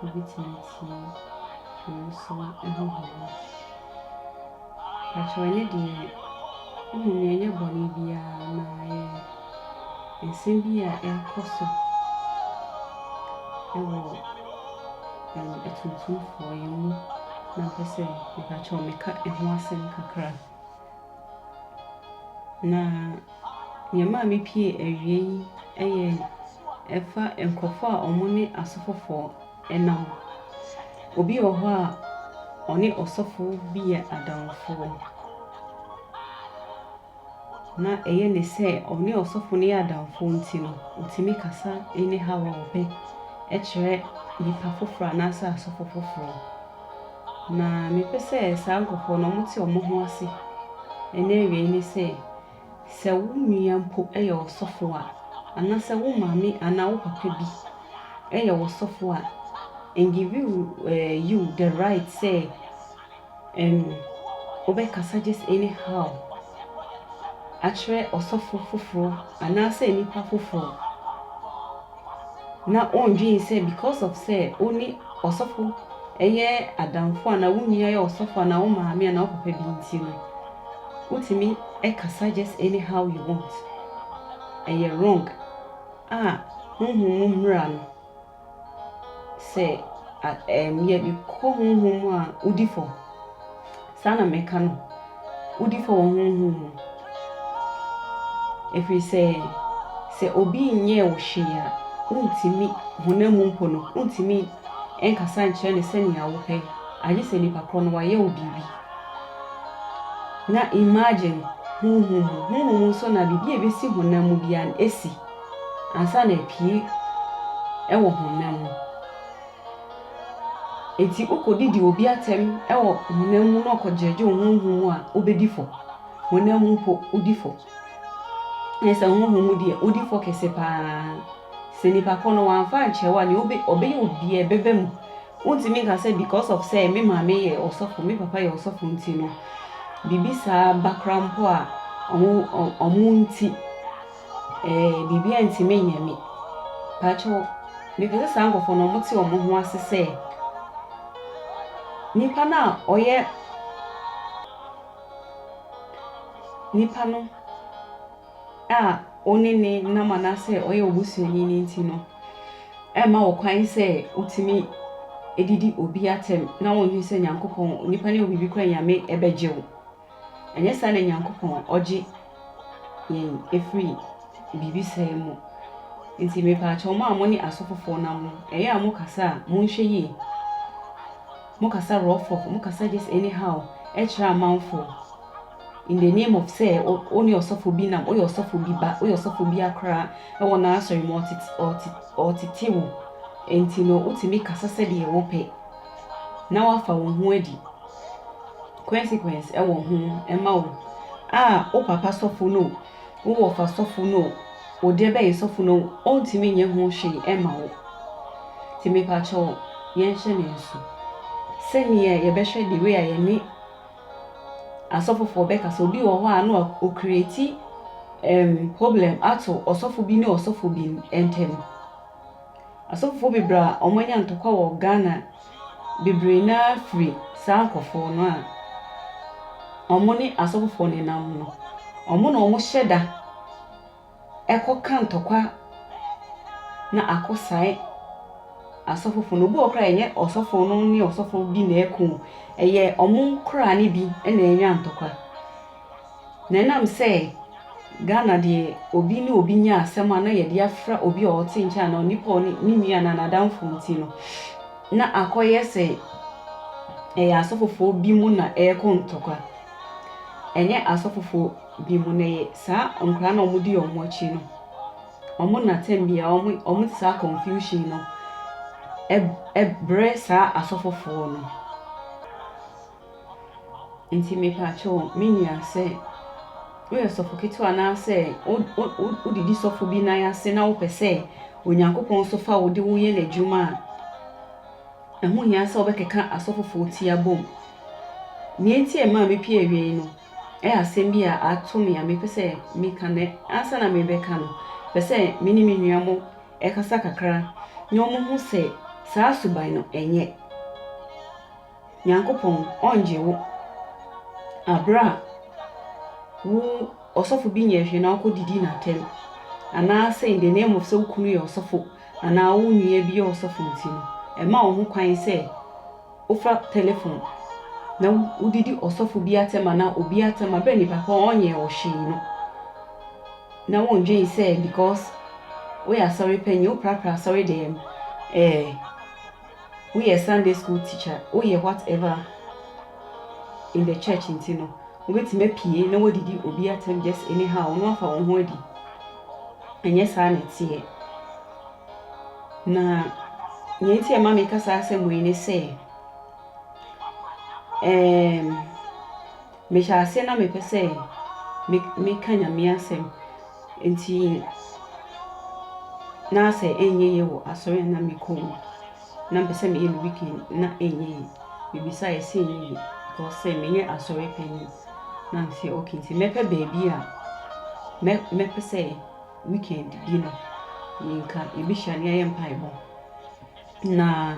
wobɛtumi atie nwomasua nhoma. Mpakyɛw ɛnnɛ deɛ wonim nea ɛnyɛ bɔne biara na ayɛ nsɛm bi a ɛrekɔ so ɛwɔ atuntumfoɔ yi mu na mpɛsɛ mpakyɛw meka ɛho asɛm kakra. Na nea ɛmaa mipiee awiei yi yɛ ɛfa nkurɔfo a wɔne asɔfofo nam. Obi wɔ hɔ a, ɔne ɔsɔfo bi yɛ adamfo, na ɛyɛ no sɛ ɔne ɔsɔfo no yɛ adamfo nti no, otumi kasa ne haw a ɔpɛ kyerɛ nnipa foforo anaasɛ asɔfo foforo. Na mepɛ sɛ saa nkurɔfoɔ no wɔte wɔn ho ase ɛne awiei ne sɛ, sɛ wo nua mpo yɛ ɔsɔfoɔ a, anaasɛ wo maame anaa wo papa bi yɛ ɔsɔfoɔ a, and give you eh, you the right sɛ um, wobɛkasa just anyhow akyerɛ ɔsɔfo foforɔ anaasɛ nipa foforɔ. na ɔndwen sɛ because of sɛ ɔne ɔsɔfo yɛ adamfo anaa wo nua yɛ ɔsɔfo anaa wo maame anaa wo papa bi nti no wotumi kasa just anyhow you want ɛyɛ wrong a honhom mu mmara no sɛ ɛm yɛ kɔ honhom mu a wodi fam. Saa na meka no, wodi fɔ wɔ honhom mu, ɛfiri sɛ, sɛ obi nyɛɛ wo hwee a, wontumi, honam mu mpo no, wontumi nkasa nkyerɛ no sɛnea wopɛ, agye sɛ nipa korɔ no wayɛ wo biribi. Na imagine honhom mu, honhom mu nso na biribi a ɛbɛsi honam mu biara no, ɛsi ansa na apue wɔ honam mu. Ntsi okɔ do dzi obi atsɛm wɔ honam mu na ɔkɔgyerɛgyew honhom mu a, obedi fɔ. Honam mu mpo, odi fɔ. Na sɛ honhom mu deɛ, odi fɔ kɛse paa. Sɛ nipa kor no ɔammfa annkyerɛ wo a, nea obe ɔbɛyɛ wo biara ɛbɛba mu. Wonntumi nnka sɛ because of sɛ me maame yɛ ɔsɔfo, me papa yɛ ɔsɔfo ntsi no, biribi saa ba koraa mpo a, ɔmo ɔmo ntsi. Ɛɛ biribi antumi anyɛ me. Pakyɛw, mepɛ sɛ saa nkurɔfoɔ no wɔte wɔn ho ase sɛ nipa no a ɔyɛ nipa no a ɔne ne nam anaasɛ ɔyɛ obusuani no nti no ɛma wɔ kwan sɛ wotumi didi obi atɛm na wɔnhwɛ sɛ Nyankopɔn, nipa ne wɔ biribi kora nyame ɛbɛgye wo. Ɛnyɛ saa na Nyankopɔn ɔgye yɛn firi biribi sɛɛ mu. Nti mepaakyɛw mo a mo ne asɔfofoɔ nam no, ɛyɛ a mo kasa a, monhwɛ yie. Mo kasa rɔfɔf, mo kasa just any how kyerɛ amanfoɔ in the name of sɛ wo ne ɔsɔfo bi nam, woyɛ ɔsɔfo bi ba, woyɛ ɔsɔfo bi akora ɛwɔ n'asɔre mu ɔtete wo. Nti no wotumi kasa sɛdeɛ wopɛ na wafa wo ho adi. Consequence wɔ ho ma wo a wo papa sɔfo no o, wo wɔfa sɔfo no o, wo deɛ bɛn sɔfo no o, ɔntumi nyɛ ho hwee mma wo. Nti mepakyɛw yɛnhyɛ no nsu. Sɛdeɛ yɛbɛhwɛ the way a yɛne asɔfofoɔ bɛkasa, obi wɔ hɔ a na ɔcreate um, problem ato ɔsɔfo bi ne ɔsɔfo bi ntam. Asɔfofoɔ bebree a wɔn anya ntɔkwa wɔ Ghana bebree no ara firi saa nkorɔfoɔ no a wɔn ne asɔfofoɔ no nam no, wɔn na wɔn hyɛ da kɔ ka ntɔkwa na akɔ sae asɔfofoɔ no. Obi wɔ hɔ koraa ɛnyɛ ɔsɔfoɔ no ne ɔsɔfoɔ bi na ɛko, ɛyɛ wɔn koraa no bi na anya ntɔkwa. Na ɛnam sɛ Ghana deɛ obi ne obi nya asɛm a na yɛde afra obi a ɔte nkyɛn anaa onipa a ɔne ne nua anaa n'adamfo nti no, na akɔyɛ sɛ ɛyɛ asɔfofoɔ bi mu na ɛrekɔ ntɔkwa. Ɛnyɛ asɔfofoɔ bi mu na ɛyɛ saa nkwadaa na wɔdi wɔn akyi no. Wɔn na tɛm bia wɔn wɔn saa confusion no ɛbrɛ saa asɔfofoɔ no. Nti mepaakyɛw me nua sɛ woyɛ sɔfo ketewa anaasɛ wo wo wo wodidi sɔfo bi nan ase na wopɛ sɛ Onyankopɔn nso fa wo de woyɛ n'adwuma a, ɛho hia sɛ wobɛkeka asɔfofoɔ ti abom. Nea enti a ɛmaa mepie awiei no, ɛyɛ asɛm bi a ato me a mepɛ sɛ meka na ansa na merebɛka no, pɛ sɛ me ne me nua mo ɛkasa kakra na wɔhu sɛ saa suban no ɛnyɛ Nyankopɔn ɔnngye wo aber a wo ɔsɔfo bi nnyɛɛ hwee na ɔkɔ didii n'atam, anaasɛ in the name of sɛ wo kunu yɛ ɔsɔfo anaa wo nua bi yɛ ɔsɔfo ntsi no, mma wo ho kwan sɛ efa tɛlɛfon na wodidi ɔsɔfo bi atam anaa obi atam aber a nyimpa kor a ɔnnyɛɛ wo hwee no, na wonndwen sɛ because woyɛ asɔrpanyin, woprapra asɔr dɛm, ɛɛ. woyɛ Sunday school teacher, woyɛ what ever in the church nti no, wobɛtumi apue na woadidi obi atɛm just anyhow, na wafa wo ho adi. Ɛnyɛ saa na ɛteɛ. Na nea nti ɛma meka saa asɛm wei ne sɛ, um, Mehyɛ aseɛ na mepɛ sɛ meka Nyame asɛm nti na sɛ ɛnyɛ yie wɔ asɔre a na mekɔ mu na mpɛ sɛ meyɛ me weekend na ɛnyɛ yie mebisa yɛ sɛ ɛnyɛ yie because sɛ menyɛ asɔre panyin na mesɛ ok nti mɛpɛ baabi a mɛ mɛpɛ sɛ weekend bi no yɛnka yɛbɛhyia na yɛayɛ mpaebɔ. Na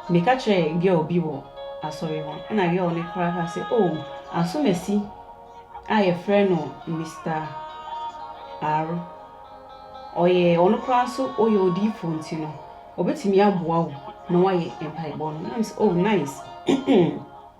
meka kyerɛɛ girl bi wɔ asɔre hɔ, ɛna girl no koraa kaa sɛ, Oh, asomasi a yɛfrɛ no Mister R, ɔyɛ, ɔno koraa nso ɔyɛ odiyifoɔ nti no, ɔbɛtumi aboa wo ma woayɛ mpaebɔ no. Na mesɛ, Oh, nice.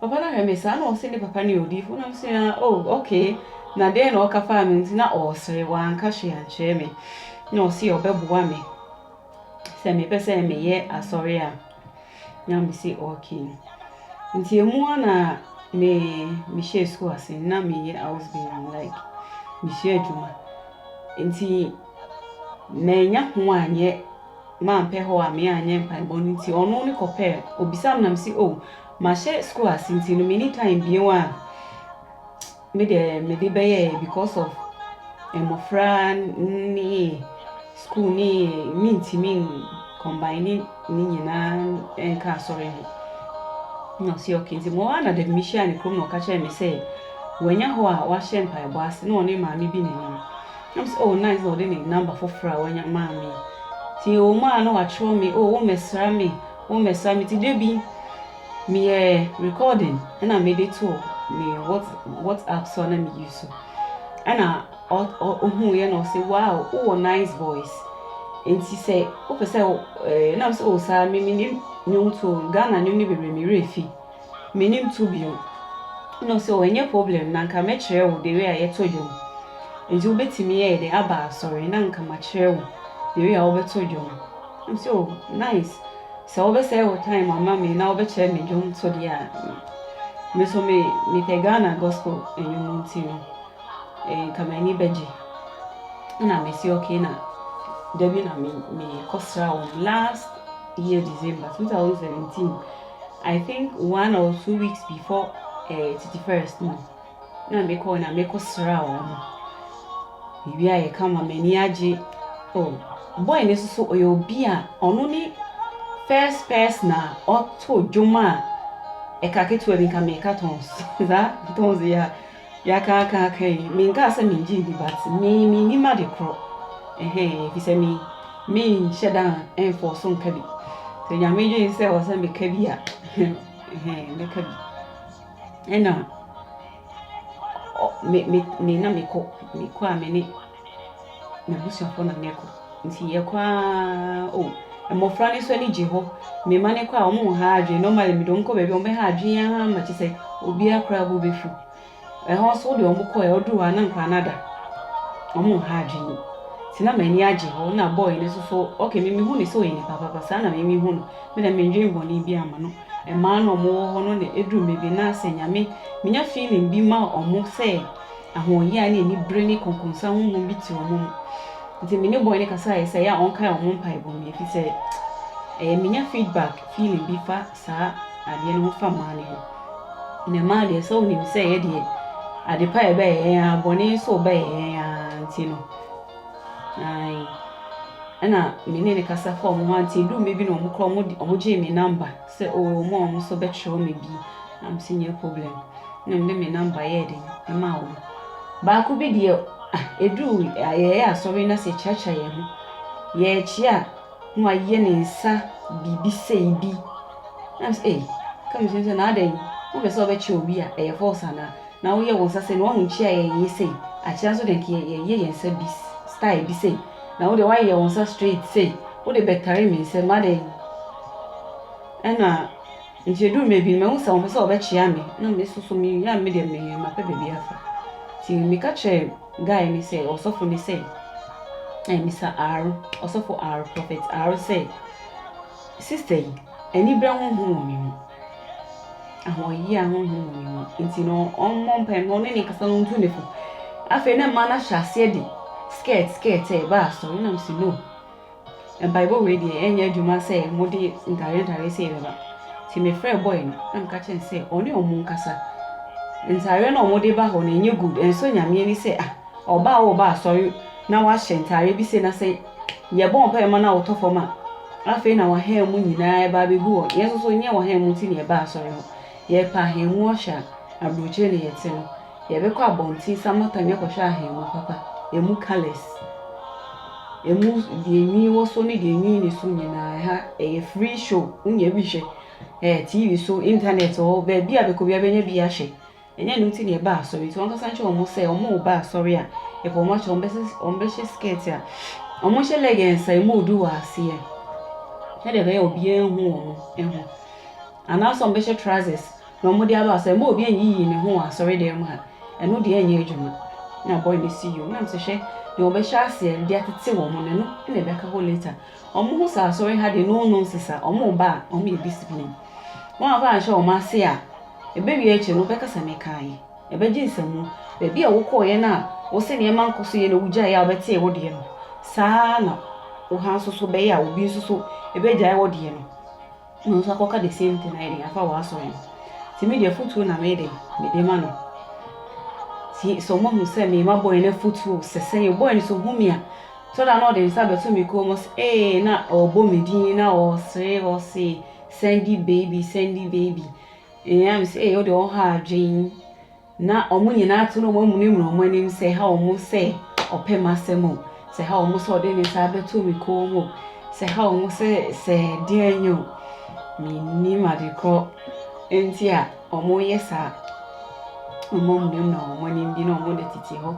Papa no hwɛ me saa na ɔse ne papa no yɛ odiifo na mese ah oh okay na dɛn na ɔka faa me ho nti na ɔresere wanka hwee ankyerɛ me na ɔse ɔbɛboa me sɛ mepɛ sɛ meyɛ asɔre a na mese okay nti emu a na me mehyɛ sukuu ase na meyɛ house baby like mesua adwuma nti manya ho anyɛ mampɛ hɔ a me anyɛ mpaebɔ no nti ɔno ne kɔpɛ obisa me na mese oh Mahyɛ school ase nti no menni time bio a me deɛ mede bɛyɛɛ because of mmɔfra ne school ne mentumi combine ne nyinaa nka asɔre ho. Na ɔsi okay nti mo ara na dɛm mehyia ne kurom na ɔka kyerɛ me sɛ wanya hɔ a wahyɛ mpaebɔ ase na ɔne maame bi na ɛnam. Nam sɛ oh nice na ɔde ne number foforɔ a wanya maa me. Nti ɛwɔ mu a na wakyerɛw me oh wo mmɛsra me Wo mmɛsa me ti dabi meyɛ recording ɛna mede to me what whatsapp so na me use so ɛna ohun yɛ na ɔsɛ wow wowɔ nice voice nti sɛ wopɛ sɛ ɛɛ nam sɛ o saa me me nim nnwom to ghana nnwom ne bebree me werɛ fi. Mennim to biom. Ɛna ɔse oh ɛnyɛ problem na nka mɛkyerɛ wo the way a yɛtɔ dwom nti wobɛtumi ɛyɛ dɛn aba asɔre na nka makyerɛ wo the way a wobɛtɔ dwom. Ɛna ɔse oh nice sɛ wobɛsɛe wo time ama me na wobɛkyerɛ me dwom to deɛ a me nso me mepɛ Ghana gospel nnwom nti no eh, nka m'ani bɛgye. Ɛna mese ok na da bi na me mekɔsra wɔn last year December 2017 I think one or two weeks before eh, Titi First no, na mekɔɔ na mekɔsraa wɔn. Mewiaeɛ kama, m'ani agye. Oh, boy no nso so ɔyɛ obi a ɔno ne first person a ɔtoo dwom a ɛka ketewa bi nka meka tons saa tons yɛ a Yɛakaakaaka yi, menkaa sɛ mengye ndi but me mennim ade korɔ ɛhɛn efisɛ me menhyɛ da ɛnfɔɔso nka bi sɛ Nyame dwen sɛ ɔsɛ meka bi a ɛhɛn mɛka bi ɛna me me na mekɔ mekɔ a mene M'abusuafo na yɛkɔ. Nti yɛkɔ aa oh. Mmofra no nso ani gye hɔ. Me mma no kɔ a, wɔnha adwene. Normally me de wɔn kɔ baabi a wɔbɛha adwene ara ma kyerɛ sɛ obiara koraa bo befuw. Ɛhɔ nso wode wɔn kɔ a, wɔduru hɔ a na nkwadaa no ada. Wɔnha adwene. Nti na m'ani agye hɔ. Ɛnna boy no nso so, okay me mihu no sɛ ɔyɛ nipa papa. Saa na me mihu no. Me deɛ mendwen bɔne biara mma no. Mmaa no a wɔwɔ hɔ no na eduru baabi no na sɛ Nyame, minya feeling bi ma wɔn sɛ, Ahoɔhia ne anibere ne konkonsa honhom bi te wɔn mu. Nti me ne boy no kasae sɛ ɛyɛ a ɔnkae wɔn mpaebɔ mu efisɛ ɛyɛ menya feedback feeling bi fa saa adeɛ no ho fa mmaa no ho. Na mmaa deɛ sɛ wonim sɛ yɛ deɛ ade pa yɛ bɛyɛ yɛn ara bɔne nso bɛyɛ yɛn ara nti no. Ae. Ɛna me ne no kasa fa wɔn ho ante duu mmɛ bi na wɔn kora wɔn gyee me number. Sɛ oo mo a ɔmo so bɛ kyerɛw me bi na me se nyɛ problem na me de me number yɛɛ den ɛmaa ɔmo. Baako bi deɛ ah ɛduru a yɛyɛ asɔre na sɛ ɛkyiakyia yɛn ho yɛɛ kyia a na wayɛ ne nsa biribi sei bi na me se ei ka me tirim sɛ na adɛn wo pɛ sɛ wo bɛ kyia obi a ɛyɛ false anaa na wo yɛ wo nsa sei na wahu nkyia a yɛyɛ sei akyia nso deɛ nka yɛyɛ yɛn nsa bi style bi sei. Na wo deɛ woayɛ wo nsa straight sei, wode bɛtare me sɛ madɛn? Ɛna nti ɛduru baabi no mahu sɛ wɔpɛ sɛ wɔbɛkyea me na me nso so meyɛ a me deɛ me mapɛ baabi afa. Nti meka kyerɛɛ guy no sɛ ɔsɔfo no sɛ eh, Mr. Aaro, ɔsɔfo Aaro, Prophet Aaro sɛ sister yi, Anibere honhom wɔ ne mu. Ahoɔyea honhom wɔ ne mu. Nti no, ɔmmɔ mpae mma ɔne ne nkasa no ntu ne fo. Afei na mmaa no ahyɛ aseɛ de skirt skirt reba asɔre. Ɛna mese no, mpaebɔ wei deɛ ɛnyɛ adwuma sɛ mode ntadeɛ ntadeɛ sei bɛba. Nti mefrɛɛ boy no na meka kyerɛ no sɛ ɔne wɔn nkasa. Ntadeɛ no a wɔde ba hɔ no ɛnyɛ good. Ɛnsɔ Nyame ani sɛ ah ɔbaa a ɔreba asɔre na wahyɛ ntadeɛ bi sei na sɛ Yɛbɔɔ mpaeɛ ma no a wɔtɔ fam a, afei na wɔn han mu nyinaa ba abɛgu hɔ. Yɛn nso so nyɛ wɔn han mu nti na yɛbaa asɔre hɔ. Yɛpɛ ahan mu ɔhwɛ a, aburokyire na yɛte no. Yɛbɛkɔ abɔnten Samatha ne akɔhwɛ ahan mu papa, ɛmu colours, ɛmu deɛ nwi wɔ so ne deɛ nwi nni so nyinaa. Ɛha ɛyɛ free show, wonya bi hwɛ ɛɛ TV so, internet wɔ hɔ, baabi a bɛkɔ biara bɛnya bi ahwɛ. Ɛnyɛ ɛno nti na yɛbaa asɔre, nti wɔnkasa nkyerɛ wɔn sɛ wɔn a wɔba asɔre a yɛpɛ wɔn akyɛ, wɔn bɛhyɛ skirt a wɔn hyɛ leggings a emu du wɔ aseɛ, sɛdeɛ ɛbɛyɛ obiara nhu wɔn ho, anaasɛ wɔn bɛhyɛ trousers na wɔn de aba asɔre, ɛma obi nyiyi ne ho wɔ asɔre dɛm a, ɛno deɛ ɛnyɛ adwuma. Na boy no si yom, na mesɛ hwɛ deɛ wɔbɛhyɛ aseɛ de atete wɔn no, ɛno na ɛbɛka hɔ later. Wɔn ho sɛ asɔre ha deɛ no nonsense a wɔn ba a wɔn yɛ discipline. Wɔn a woanhyɛ wɔn ase a, ɛbɛwie akyiri no wobɛkasa mekaa yi. Ɛbɛgye nsamu. Baabi a wokɔeɛ no a wose nneɛma nkɔ so yie na wogyaeɛ a wobɛtee wo deɛ no, saa ara na wo ha nso so bɛyɛ a obi nso so bɛgyae wo deɛ no na ɔno nso akɔka the same thing ayɛ dɛn afa w'asɔre no. Nti me deɛ afotuo na meyɛ dɛn mede ma no. Nti sɛ wɔahu sɛ mema bɔe no afotuo sɛ sɛdeɛ bɔe no sɛ ɔhu me a tɔ da na ɔde ne nsa bɛto me kɔn mu sɛ ee na ɔrebɔ me din na ɔresere ɔse Sandy baby, Sandy baby Ɛyɛ a me sɛ ee wodeɛ ɔha adwen Na ɔmo nyinaa ato no ɔmo amunimuna ɔmo anim sɛ ha ɔmo sɛ ɔpɛ m'asɛm o Sɛ ha ɔmo sɛ ɔde ne nsa abɛto me kɔn mu o Sɛ ha ɔmo sɛ sɛ deɛn nyɛ o Mennim ade korɔ nti a ɔmo yɛ saa Ɔmo amunimuna ɔmo anim bi na ɔmo de tete hɔ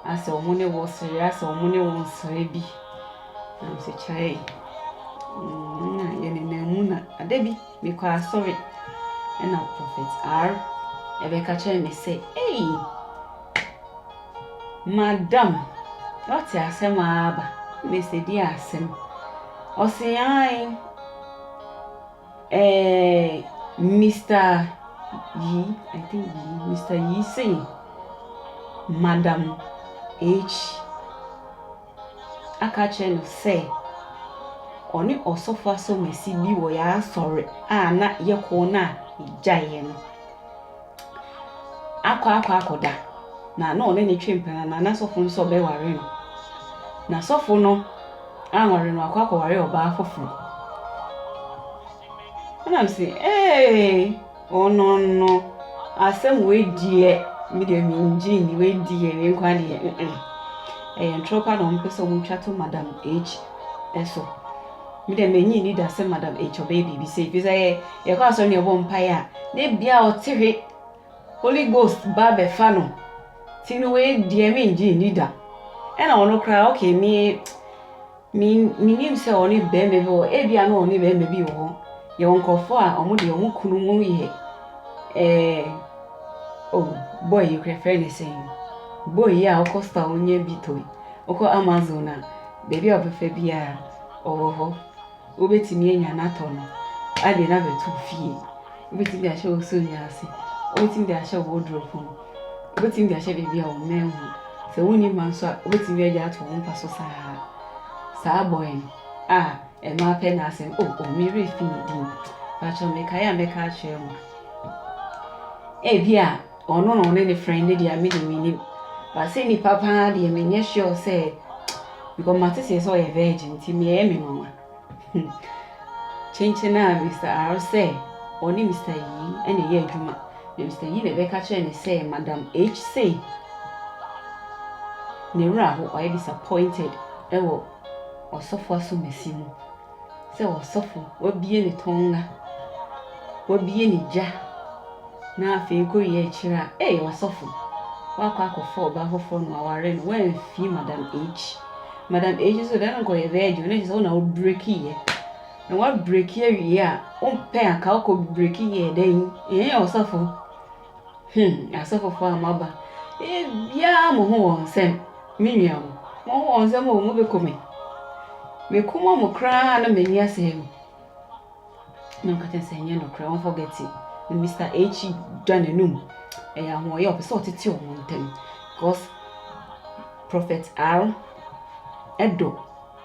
Asɛ ɔmo ne wo sere asɛ ɔmo ne wo nsere bi Nyansakyae mm na yɛ nenam mu na ada bi me kɔ asɔre ɛna prophet R ɛbɛka kyerɛ me sɛ ei madam wate asɛm aba me sɛ di asɛm ɔse ae ɛɛ Mr yi I think yi Mr yi sei madam H aka kyerɛ no sɛ ɔne ɔsɔfo asɔmasi bi wɔ yɛn asɔre a na yɛkɔ no a yɛgyaeɛ no akɔ akɔ akɔda na na ɔne ne twe mpena na na sɔfo no sɛ ɔbɛware no na sɔfo no anware no akɔ akɔware ɔbaa foforɔ ɛnam sɛ ee Ɔno no asɛm wei deɛ me deɛ me ngye nni wei deɛ wei nkoaa deɛ mm ɛyɛ ntorɔ paa na wɔn pɛ sɛ wɔn twa to madam H ɛso me deɛ me nyi nni da sɛ madam H ɔbɛyɛ biribi sɛ efi sɛ yɛ yɛ kɔ asɔre na yɛ bɔ mpae a ne bia ɔte hwe holy ghost ba bɛfa no ti no wei deɛ me ngye nni da ɛna ɔno koraa ɔkɛ me. Me, menim sɛ ɔne bɛrima bi wɔ, ebia na ɔne bɛrima bi wɔ hɔ. Yɛwɔ nkurɔfoɔ a wɔn deɛ wɔn kunu mu yɛ ɛɛ oh boy yi kura fɛn ne sɛn boy yi a ɔkɔ store ɔnyɛ bi tɔ yi ɔkɔ amazon a baabi a ɔbɛfa biara ɔwɔ hɔ wobɛtumi anya no atɔ no adeɛ no abɛto fie wobɛtumi de ahyɛ wo sonnwa ase wobɛtumi de ahyɛ wo wardrobe mu. Wobɛtumi de ahyɛ baabi a wɔn nan nhu. Sɛ wonni mma nso a, wobɛtumi agya ato wɔn mpa so saa ara. Saa boy no, ah, mmaa pɛ n'asɛm. Oh, oh, me werɛ fi ne din. Patrɔ, mekae a mɛka akyerɛ mo. Ebia ɔno na ɔne ne friend no deɛ me deɛ mennim. But sɛ nipa paa deɛ menyɛ sure sɛ because mate sɛ sɛ ɔyɛ virgin nti ɛyɛ me nwanwa. Kyenkyen ara Mister Arr sɛ ɔne Mister Yi na ɛyɛ adwuma, na Mister Yi na ɛbɛka kyerɛɛ no sɛ Madam H sei ne wura ho. Ɔyɛ disappointed wɔ ɔsɔfo asɔmasi mu sɛ ɔsɔfo wabue ne tɔnga, wabue ne gya, na afei nkowie a akyire a, ei ɔsɔfo, woakɔ akɔfa ɔbaa foforɔ na waware no, woamfie Madam H. Madam A kyerɛ sɛ ɔde ankɔ yɛ virgin no na kyerɛ sɛ wo na wo break yɛ. Na wa break awie a wo mpɛ aka wo kɔ break yɛ dɛn? Ɛɛ ɔsɔfo. Hmm asɔfofo a maba. Ee biara mo ho wɔn nsɛm. Me nua mo. Mo ho wɔn nsɛm o mo bɛ kɔ me. Me kɔn mu koraa na m'ani asɛe mo. na ɔka kyerɛ sɛ ɛnyɛ nokorɛ wɔn forget it na Mister H dwa n'anum ɛyɛ ahoɔyɛ ɔpɛ sɛ ɔtete wɔn ntam because Prophet R ɛdɔ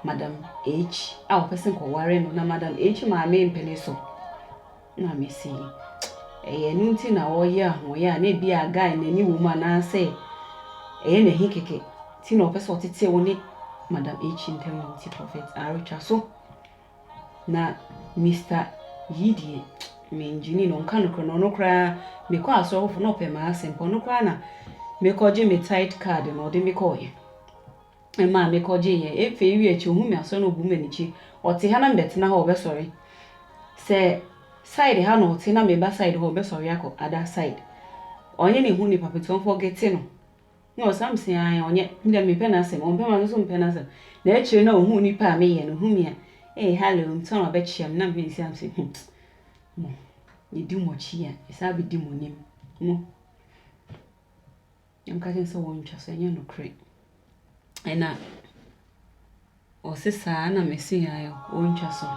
Madam H a ɔpɛ sɛ nkɔware no na Madam H maame mpɛ ne so na mesi ɛyɛ ɛno nti na ɔyɛ ahoɔyɛ a na ebi a guy n'ani wɔ mu anaasɛ ɛyɛ n'ahi kɛkɛ ti na ɔpɛ sɛ ɔtete wɔn ne Madam H ntam nti Prophet R twa so. Na Mister Yi deɛ, me ngyinii no, nka nokorɛ no, ɔno koraa, me kɔɔ asɔre foforɔ na ɔpɛ m'asɛm paa, ɔno koraa na me kɔ gye me tithe card no, ɔde me kɔɔyɛ. Ɛmaa me kɔ gye yɛ, ɛfɛ yi wie akyi, ohun me asɔre na obu me anikyi. Ɔte ha na me bɛtena hɔ, ɔbɛsɔre. Sɛ side ha na ɔte na me ba side hɔ, ɔbɛsɔre akɔ other side. Ɔnyɛ ne ho nipa pɛtɛ, ɔnfɔgete no. Na ɔsam se ae, ɔnyɛ, me deɛ mempɛ n'asɛm, ɔmpɛ ma me nso mpɛ n'asɛm, na akyire no ɔhuu nipa a meyɛ no, ɔhu me a, ee hallo, ɔmpɛ sɛ ɔbɛkyea me, na me nsi am se, hmm, mo, yɛdi mo akyi a, yɛsan bɛdi mo anim, mo, na meka kyerɛ no sɛ wɔntwa so, ɛnyɛ nokorɛ, ɛna. ɔsesaa na meseae wɔntwa so.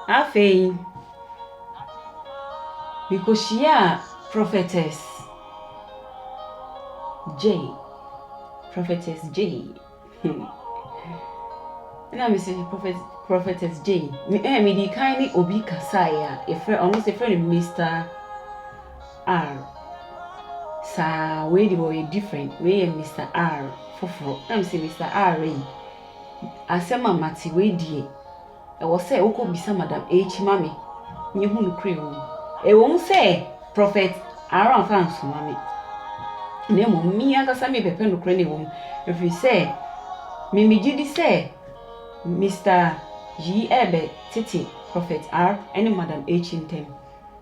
Afei, mekɔhyiaa Prophetess Jay. Prophetess Jay. na mese prophet, Prophetess Jay. Me, eh, medi kan ne obi kasaeɛ a, yɛfrɛ, ɔno sɛ yɛfrɛ no Mr. R, Saa, wei deɛ ɔyɛ different, wei yɛ Mister R foforɔ. Na me se Mister R ayi, asɛm a mate wei deɛ, ɛwɔ sɛ wokɔ bisa Madam H ma me, nye hu nokorɛ wɔ mu. Ɛwɔ mu sɛ Prophet R amfa ansoma me, na mmom me ankasa me pɛpɛ nokorɛ no a ɛwɔ mu, ɛfiri sɛ me me gyedi sɛ Mister yi ɛɛbɛ tete Prophet R ne Madam H ntɛm.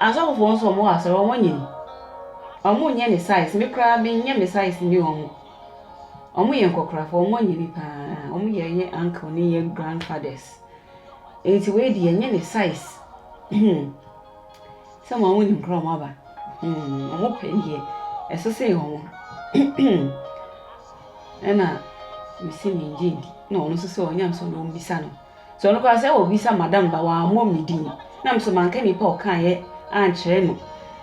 Asɔfo foɔ nso ɔmo wɔ asɔre ɔmo nyɛ ni ɔmo nyɛ ne size me koraa me nyɛ me size ni ɔmo ɔmo yɛ nkɔkorafo ɔmo nyɛ ni paa ɔmo yɛ yɛ uncle ne yɛ grandfathers eti wei deɛ nyɛ ne size hmm sɛ ɔmo ɔmo nim koraa ɔmo aba hmm ɔmo pɛ deɛ ɛsese ɔmo ɛna mesi me ngye ndi na ɔno nso sɛ ɔnya nso na ɔmo bisa no. Sɛ ɔno koraa sɛ obisa madam ba wammɔ me din na me so manka nipa a ɔkaeɛ ankyerɛ no.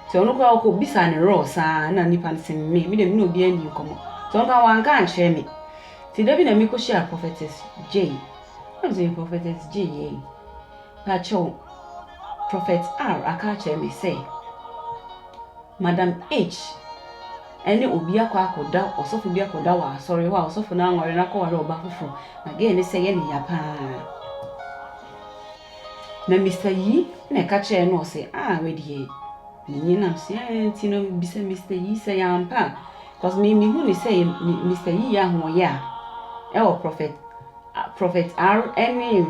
Sɛ ɔno koraa ɔkɔbisaa ne rɔɔ saa na nipa no se me, me deɛ me ne obiara nni nkɔmmɔ. Sɛ ɔno koraa wanka ankyerɛ me. Nti da bi na mekɔhyia Prophetess Jay. Na me se Prophetess Jay ei, pakyɛw Prophet R aka akyerɛ me sɛ, Madam H. ne obi akɔ akɔda, ɔsɔfo bi akɔda wɔ asɔre hɔ a ɔsɔfo no anware no akɔware ɔba foforo, na gɛɛ no sɛ yɛ ne ya pa ara. Na Mister Yi na ɛka kyerɛɛ no ɔse, ah, wei deɛ, menye nam so yɛ nti no mebisa Mister Yi sɛ yɛ ampa a, cause me mehu ne sɛ yɛ Mister Yi yɛ ahoɔyɛ a ɛwɔ Prophet Prophet R ne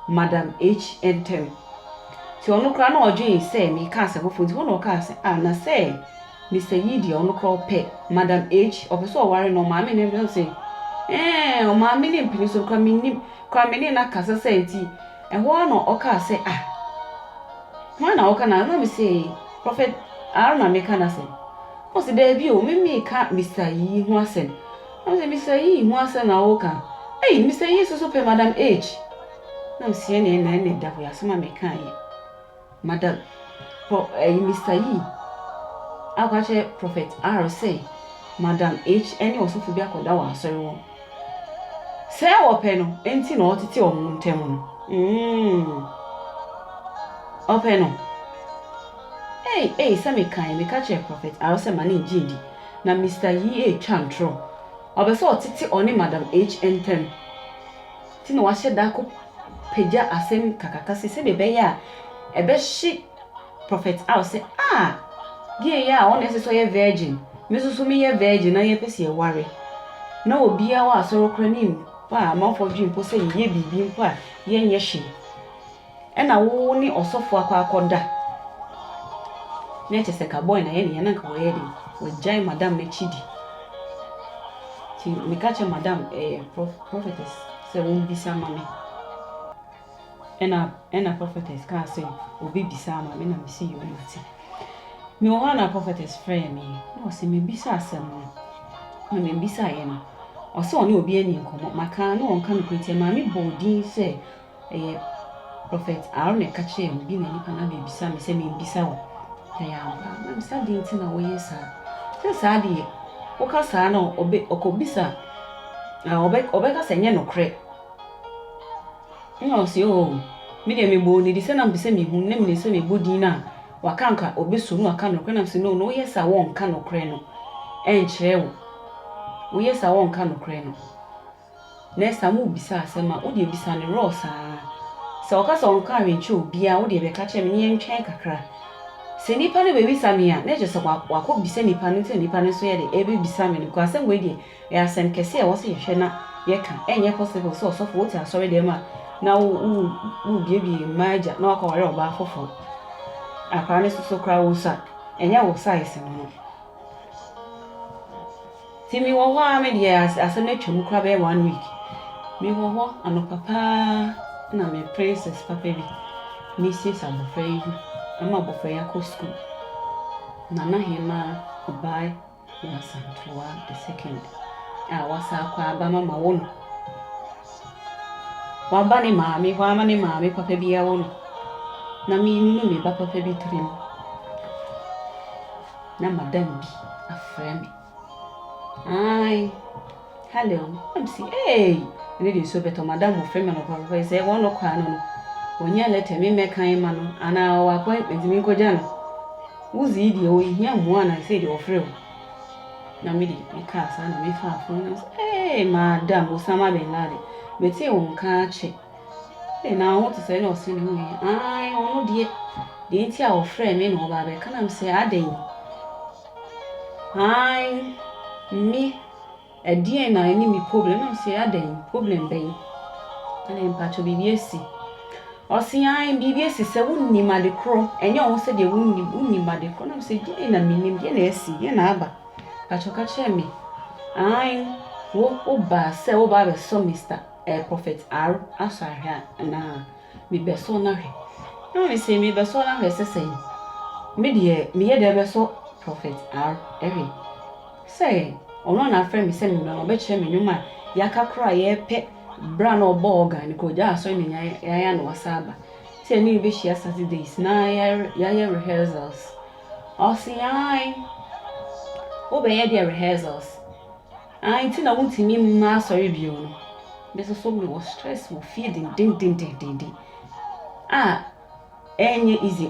Madam H ntam. Nti ɔno koraa na ɔdwen sɛ mekaa sɛ foforo nti hɔ na ɔkaa sɛ ah na sɛ Mister Yee deɛ ɔno koraa ɔpɛ Madam H ɔpɛ sɛ ɔware no ɔmaame ne no se eeh ɔmaame ne mpini so no koraa mennim koraa me ne no akasa sɛ nti ɛhɔ ara na ɔkaa sɛ ah hwan na ɔka na na me se Prophet R na meka n'asɛm ɔse daabi o me meka Mister Yee ho asɛm Ɔse Mister Yee ho asɛm na wo ka ei Mister Yee soso pɛ Madam H na ɔseɛ neɛ na ɛnɛ da hɔ yi asɛm a me ka yɛ Madam Pro ɛyi Mister Yee akɔ akyerɛ Prophet R sɛ Madam H ɛne ɔsofo bi akɔ da wɔ asɔre hɔ sɛɛ wɔ pɛ no ɛnti na ɔtete ɔmo ntɛm no mm ɔpɛ no ei ei sɛ me ka yɛ me ka kyerɛ Prophet R sɛ ma ne ngye di Na Mister Yi retwa ntorɔ. Ɔpɛ sɛ ɔtete ɔne Madam H ntam. Nti na wahyɛ da akɔpagya asɛm kakaka sei sɛdeɛ ɛbɛyɛ a ɛbɛhye Prophet Al sɛ, Ah! Gay yi a ɔna ɛsɛ sɛ ɔyɛ virgin. Me nso so meyɛ virgin na yɛpɛ sɛ yɛware. Na obiara wɔ asɔre koraa ne mfa amanfoɔ adwene mpo sɛ yɛyɛ biribi mpo a yɛnyɛ hwee. Ɛna wo ne ɔsɔfo akɔ akɔ da na ɛkyɛ sɛ ka boy na yɛ ne yɛ na nka wɔyɛ den wagyae madam no akyi di ti me ka kyɛ madam ɛyɛ prophetess sɛ wɔn bisa ma me ɛna ɛna prophetess ka sɛ obi bisa ma me na me si yɛ ɔma ti me wɔ hɔ na prophetess frɛ me na ɔsɛ me bisa asɛm no na me bisa yɛ no ɔsɛ ɔne obi ani nkɔmɔ maka na wɔn ka no kura ti maame bɔ odin sɛ Ɛyɛ Prɔfɛt Aaron na ɛka kyerɛɛ me. Bi na nnipa no abɛbisa me sɛ memmisa wo. Ɛyɛ ampa? Na mese, adɛn nti na woyɛ saa? Sɛ saa deɛ, woka saa na ɔbɛ, ɔkɔbisa a, ɔbɛ, ɔbɛka sɛ ɛnyɛ nokorɛ. Ɛna ɔse, oo, me deɛ mebɔɔ no din sɛ na mepɛ sɛ mehu, na menim sɛ mebɔ din no a, waka anka ɔbɛsɔ mu na waka nokorɛ. Na mese, no, no, woyɛ saa wɔnka nokorɛ no ɛnkyerɛ wo. Woyɛ saa wɔnka nokorɛ no Next time wo bisa asɛm a wo deɛ bisa no raw saa. Sɛ ɔka sɛ ɔnka hwee nkyerɛ obiaa wo deɛ bɛka kyerɛ me ne yɛntwɛn kakra. Sɛ nipa no bɛbisa me a na kyerɛ sɛ wakɔ bisa nipa no nti na nipa no nso yɛ dɛ ɛbɛbisa me no because asɛm wei deɛ ɛyɛ asɛm kɛse a ɛwɔ sɛ yɛhwɛ na yɛka. Ɛnyɛ possible sɛ ɔsɔfo wote asɔre dɛm a na wo wo wo biebie mmaa agya na wakɔ aware ɔbaa foforɔ. Akwadaa no soso koraa wosua ɛnyɛ wo size no no. Nti me wɔ hɔ aa me deɛ asɛm atwam koraa bɛyɛ one week me wɔ hɔ anɔpa paa na me princess papa bi me siesie abɔfra yi gu ama abɔfra yi akɔ school nana hemaa ɔbaa wɔ asantoa the second a wasa akɔ aba ma ma wo no waba ne maame hɔ ama ne maame papa bi awo no na me nunu me ba papa bi tirim na madam bi afrɛ me. Ae, hello, na mese, ee, ɛno deɛ nsuo bɛtɔ, madam ɔfrɛ me anɔpa papa yi sɛ wɔn no kɔa no no, wɔnyɛ lɛtɛ me mmɛkan ma no, anaa ɔwɔ appointment me nkɔgya no. Wozi yi deɛ ɔhia mmoa na ɛsɛ deɛ ɔfrɛ o. Na me deɛ mekaa saa na mefaa fon na sɛ, ee, madam, Osama bin Laden, metee wo nka akyɛ. Ei, na wo ho te sɛ ɛnna ɔse ne ho ɛ. Aane, ɔno deɛ. Deɛ nti a ɔfrɛɛ me na ɔba abɛka na mesɛ adɛn? Aane, me, ɛdeɛn na ɛne me problem? Na mesɛ adɛn, problem bɛn? Ɛnna mpakyɛ biribi asi. Ɔse aane, biribi asi sɛ wonnim ade korɔ, ɛnyɛ wo ho sɛ deɛ wonnim, wonnim ade korɔ. Na mesɛ deɛn na mennim, deɛn na asi, deɛn na aba? Mpakyɛ ka kyerɛ me. Aane, wo, wobaa sɛ woba abɛsɔ Mister. eh, Prophet R. Asɔ ahwɛ a, anaa? Mebɛsɔ no ahwɛ. Ɛna mese, mebɛsɔ no ahwɛ sɛ sɛn? Me deɛ, meyɛ dɛ bɛsɔ Prophet R. ahwɛ. Sɛ ɔno na afrɛ me sɛ memmra na ɔbɛkyerɛ me nnwom a yɛaka koraa a yɛrepɛ berɛ a na ɔbɔɔ organ no koraa ɔgyaa asɔre na nya yɛayɛ a na wasa aba. Sɛ yɛne no bɛhyia Saturdays na yɛayɛ rehearsals. Ɔse, ae, wobɛyɛ deɛ rehearsals? Ah nti na wontumi mma asɔre bio no me nso so mewɔ stress wɔ fie dendendendenden a ɛnyɛ easy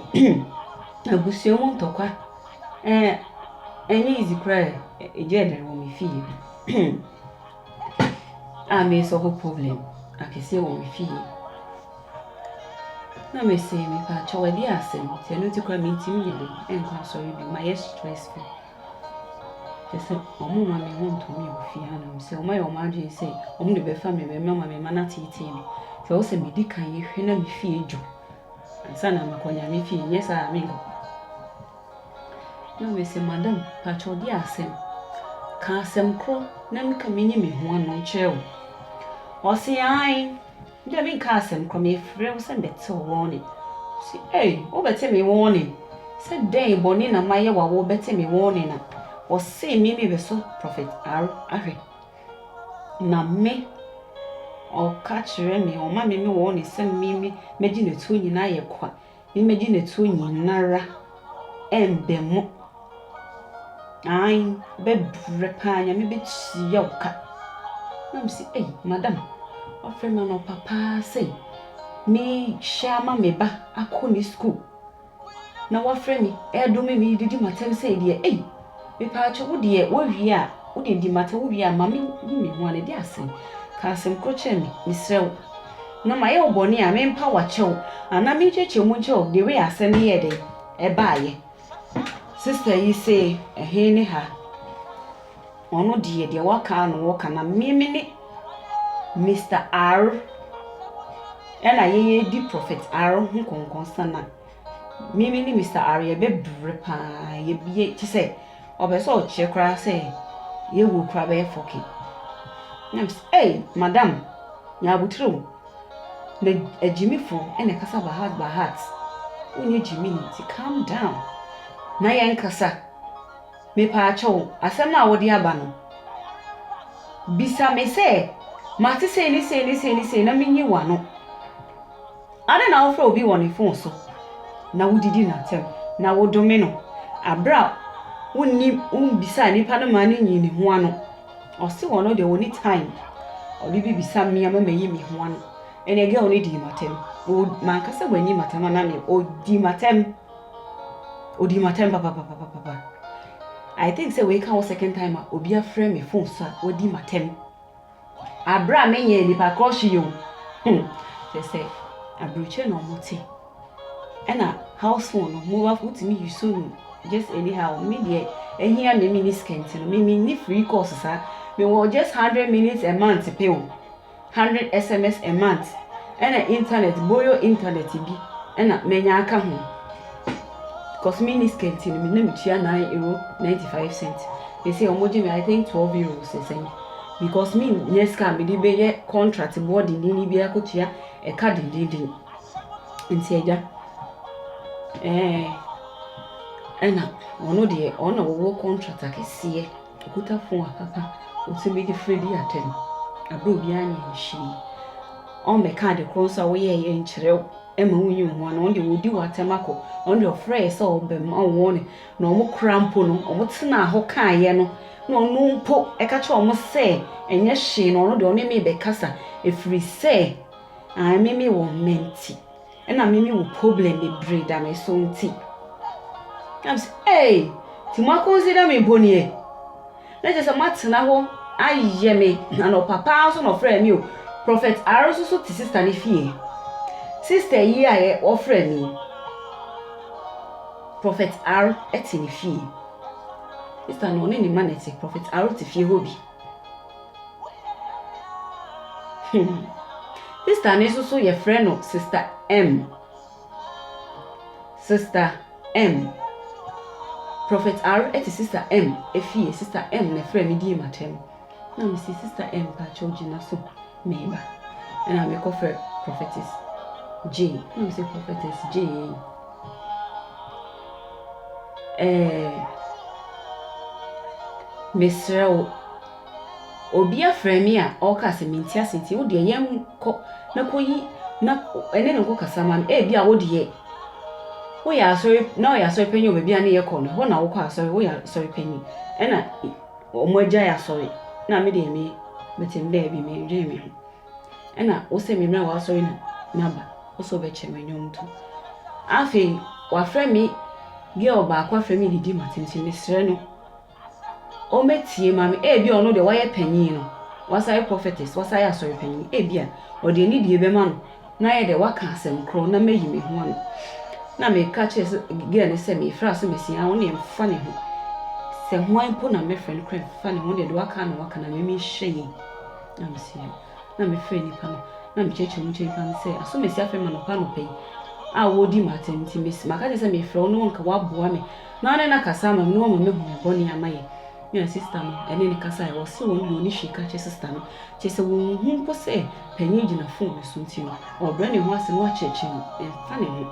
abusua mu ntɔkwa ɛɛ ɛnyɛ easy koraa ɛgya ɛdɛn wɔ me fie a me sɔfo problem akɛseɛ wɔ me fie na me se me pa kyɛw ɛde asɛm sɛ no ti koraa me ntumi nyɛ dɛn ɛnkɔ asɔre bio ma yɛ stress bi. Kyerɛ sɛ, wɔn mma no ntumi wɔ fie hanom. Sɛ wɔayɛ wɔn adwene sɛ wɔn de bɛfa me ba mu ama me mma no ateetee me, sɛ ɛwɔ sɛ medi kan yɛ hwɛ na me fie dwo ansa na makɔ Nyame fie, anyɛ saa a menkɔ. Na mese, Madam, pakyɛ wo de asɛm, ka asɛm korɔ na menka menyi me ho ano nkyerɛ wo. Ɔse, Aane. Ebia menkaa asɛm koraa, mefrɛɛ wo sɛ mebɛte wo warning. Ɔse ei, wobɛte me warning? Sɛ dɛn bɔne na mayɛ wo a wobɛte me warning a? Ɔsee me me bɛsɔ Prophet R ahwɛ. Na me, ɔka kyerɛ me, ɔma me me warning sɛ me me mɛgye n'atuo nyinaa yɛ kwa. Me megye ne to nyinara ɛnbɛ mo aanh bɛ brɛ paa nyame bɛ tua wo ka na me se ei madam wafrɛ me anɔpa paa sɛ me hyɛ ama me ba akɔ ne school na wafrɛ me ɛdome me didi matɛm sɛ deɛ ei Mepatwo wo deɛ wo wie a wo deɛ di mate wo wie a mame hu me ho a na ɛde asɛn ka asɛm korɔ kyerɛ me mesrɛ wo na ma yɛ wo bɔne a me mpa wo akyɛw anaa me nkyerɛkyerɛ mu nkyɛw the way asɛm no yɛ dɛn ɛbaa yɛ sister yi se ɛhe ne ha ɔno deɛ deɛ waka no wɔka na me me ne Mr. R ɛna yɛyɛ di Prophet R ho kɔnkɔn sana Me me ne Mister Are yɛbɛbrɛ paa yɛbie kyɛ sɛ ɔpɛ sɛ ɔkyerɛ koraa sɛ yɛwɔ kura bɛyɛ fɔke na m sɛ ei madam nya abotire o na agyimifo ɛna ɛkasa by heart by heart wonyɛ gyimini nti calm down na yɛn kasa mepaa kyɛw asɛm no a wode aba no bisa me sɛ mate sei ne sei ne sei ne sei na menyi w'ano Adɛn na wofrɛ obi wɔ ne fon so na wudidi no atɛm na wodome no bere a wunnim wummisaa nipa no maa no nyii ne ho ano? Ɔse ɔno deɛ ɔnni time ɔde bebisa me ama mayi me ho ano. Ɛnneɛ girl no dii m'atɛm. Manka sɛ wanyi m'atɛm anaa deɛ, ɔdii m'atɛm. Ɔdii m'atɛm papapapapapa. I think sɛ wei ka wo second time a obi afrɛ me fon so a wadi m'atɛm. Aberɛ a menyɛɛ nnipa korɔ hwee o. Hmm. Kyerɛ sɛ aburokyire na wɔte. Ɛna house phone no, mobile phone, wotumi yuso no just anyhow. Me deɛ, ahia me, menni sika nti no, me menni free course saa. Mewɔ just hundred minutes a month pɛ o, hundred SMS a month, ɛna internet, boyo internet bi, ɛna manya aka ho. Cos me ni skirt no na me tua nine euro ninety five cent sɛsei ɔmo gye me I think twelve euros ne sɛn because me nyɛ sika a me de bɛ yɛ contract boɔ dendenden bi akɔ tua ɛka dendenden nti agya ɛɛ ɛna ɔno deɛ ɔno na ɔwɔ contract akɛseɛ. Ɔkuta fon a papa ɔtumi de frɛ di atɛm berɛ a obiara nyɛɛ hwee. Ɔmmɛka ade korɔ nso a woyɛeɛ nkyerɛ wo mma wonyi wo ho ano. Ɔno deɛ ɔdi wo atɛm akɔ. Ɔno deɛ ɔfrɛeɛ sɛ ɔrebɛma wo wɔne na wɔkora mpo no, wɔtenaa hɔ kaeɛ no na ɔno mpo ɛka kyerɛ wɔn sɛ ɛnyɛ hwee na ɔno deɛ ɔne me rebɛkasa ɛfiri sɛ ae me mewɔ mma nti. Ɛna me me wɔ problem bebree da me so nti. Na me sɛ ee ti mo akonsi da me mpo nie. Na kyerɛ sɛ mo atena hɔ ayɛ me anɔpa paa nso na ɔfrɛ me o. Prophet R nso so te sister ne fie. Sister yi a yɛ ɔfrɛ me. Prophet R te ne fie. Sister no ɔne ne ma na ɛte. Prophet R te fie hɔ bi. Hmm. Sister no nso so yɛfrɛ no Sister M. Sister M. Prophet R te Sister M efie. Sister M na ɛfrɛ me die matam. Na mesi Sister M paakyɛw gyina so. Meba. Ɛna me kɔ frɛ Prophetess Jay. Ɛna me sɛ Prophetess Jay. Ɛɛ. Mesrɛ wo. Obi afrɛ me a ɔka sɛ menti ase nti wo deɛ yɛn kɔ na kɔyi na ɛne ne nkɔ kasa ma me. Ebi a wo deɛ woyɛ asɔre na ɔyɛ asɔre panyin wɔ baabi a ne yɛ kɔ no hɔ na wokɔ asɔre woyɛ asɔre panyin ɛna wɔn agyae asɔre na me deɛ me mete me baabi me dwen me ho ɛna wo sɛ me mmra w'asɔre na maba wo sɛ wobɛkyɛ me nnwom to afei wafrɛ me girl baako afrɛ me didi ma tenten mesrɛ no ɔmɛtie ma me ebi ɔno deɛ wayɛ panyin no wasan yɛ prophetess wasan yɛ asɔre panyin ebi a ɔde anidie bɛma no na ayɛ dɛ ɔaka asɛm kor na meyi me ho ano na meka kyerɛ girl no sɛ mereferɛ asɛm asi aa ɔno deɛ mfa ne ho sɛ hwan mpo na mɛfrɛ no koraa mfa ne ho ɔno deɛ deɛ ɔaka na ɔaka na me menhyɛ yie na mese yo na mefrɛ nipa no na mekyerɛkyerɛ mu kyerɛ nipa no sɛ asɛm asi afrɛ me anɔpa anɔpa yi a wɔredi ma atɛm nti maka kyerɛ sɛ mefrɛ wo na ɔnka waboa me na ɔne no akasa ama me na ɔma mahu me bɔne a mayɛ na sista no ne no kasae, ɔse ɔno deɛ ɔne hwee ka kyerɛ sista no, kyerɛ sɛ ɔnhu mpo sɛ panin yi gyina fon no so nti no, ɔrebrɛ ne ho ase na wakyerɛkyerɛ no, ɛmfa ne ho.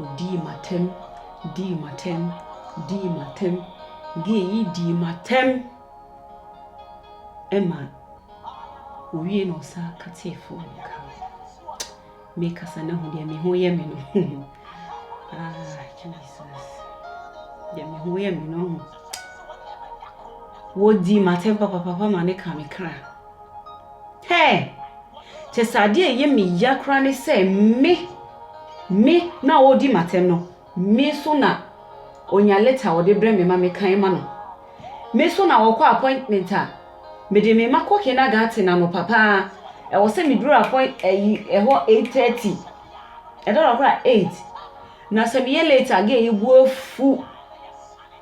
Ɔdii m'atɛm, dii m'atɛm, dii m'atɛm, gay yi dii m'atɛm, ɛma owie na ɔsan ka tee fon no ka. Mekasa na hu deɛ me ho yɛ me no ah Jesus deɛ me ho yɛ me no ho wɔdi m'atɛm papapapa ma ne ka me kra hɛ kyɛ sɛ adeɛ ɛyɛ me ya koraa ne sɛ me me na wɔdi m'atɛm no Me nso na ɔnya lɛta a ɔde brɛ me ma mekan ma no. Me nso na ɔkɔ appointment a, mede me mma kɔ kindergarten anɔpa pa ara. Ɛwɔ sɛ meduru appoint ayi ɛhɔ eight thirty, ɛda hɔ koraa a eight. Na sɛ meyɛ late a, gɛɛ yi bo afu.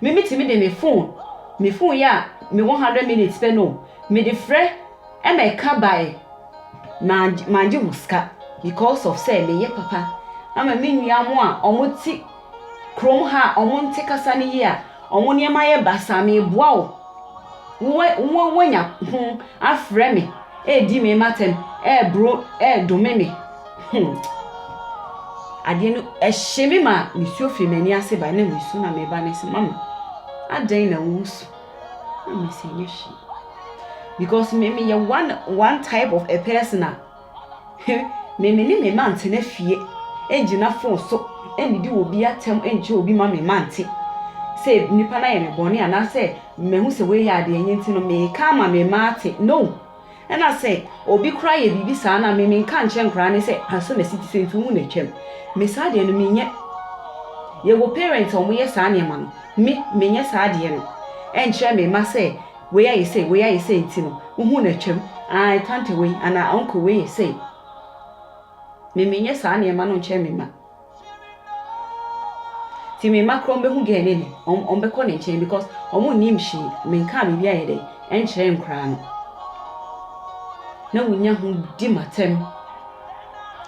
Me me tumi de me phone me phone yi a me wɔ hundred minutes pɛ no me de frɛ ɛma ɛka bae mangye mangye ho sika because of sɛ me yɛ papa ama me nua mo a ɔmo te krom ha a ɔmo nte kasa no yie a ɔmo nneɛma yɛ basa me boa wo wowɛ wowɛ wanya ho afrɛ me ɛɛdi me matɛm ɛɛboro ɛɛdome me. Hmm. Adeɛ no ɛhye me ma mesuo firi m'ani ase bae na mesu na meba ne sɛ mama adɛn na wosu na mesɛ nyɛ hwee because me meyɛ one one type of a person a me me ne me ma ntena fie ɛngyina fon so ɛnnidi wɔ bi atɛm ɛnkyɛ obi ma me ma nte sɛ nipa no ayɛ me bɔne anaasɛ mahu sɛ wei yɛ adeɛ nyɛ nti no meka ama me ma ate no Ɛna sɛ obi koraa yɛ biribi saa na me menka nkyerɛ nkoraa ne sɛ asɔ nasi te sɛ nti wohu na atwam me saa deɛ no menyɛ yɛwɔ parents a wɔyɛ saa nneɛma no me menyɛ saa deɛ no ɛnkyerɛ me ma sɛ wei ayɛ sɛ wei ayɛ sɛ nti no wohu na atwam ah tante wei anaa uncle wei yɛ sɛ me menyɛ saa nneɛma no nkyerɛ me ma Ti me mma kura ɔmo bɛhu gɛɛ ne ne ɔmo ɔmo bɛkɔ ne nkyɛn because ɔmo nnim hwee me nkaa biribi ayɛ dɛ ɛnkyerɛ nkoraa no na wonya ho di ma tɛm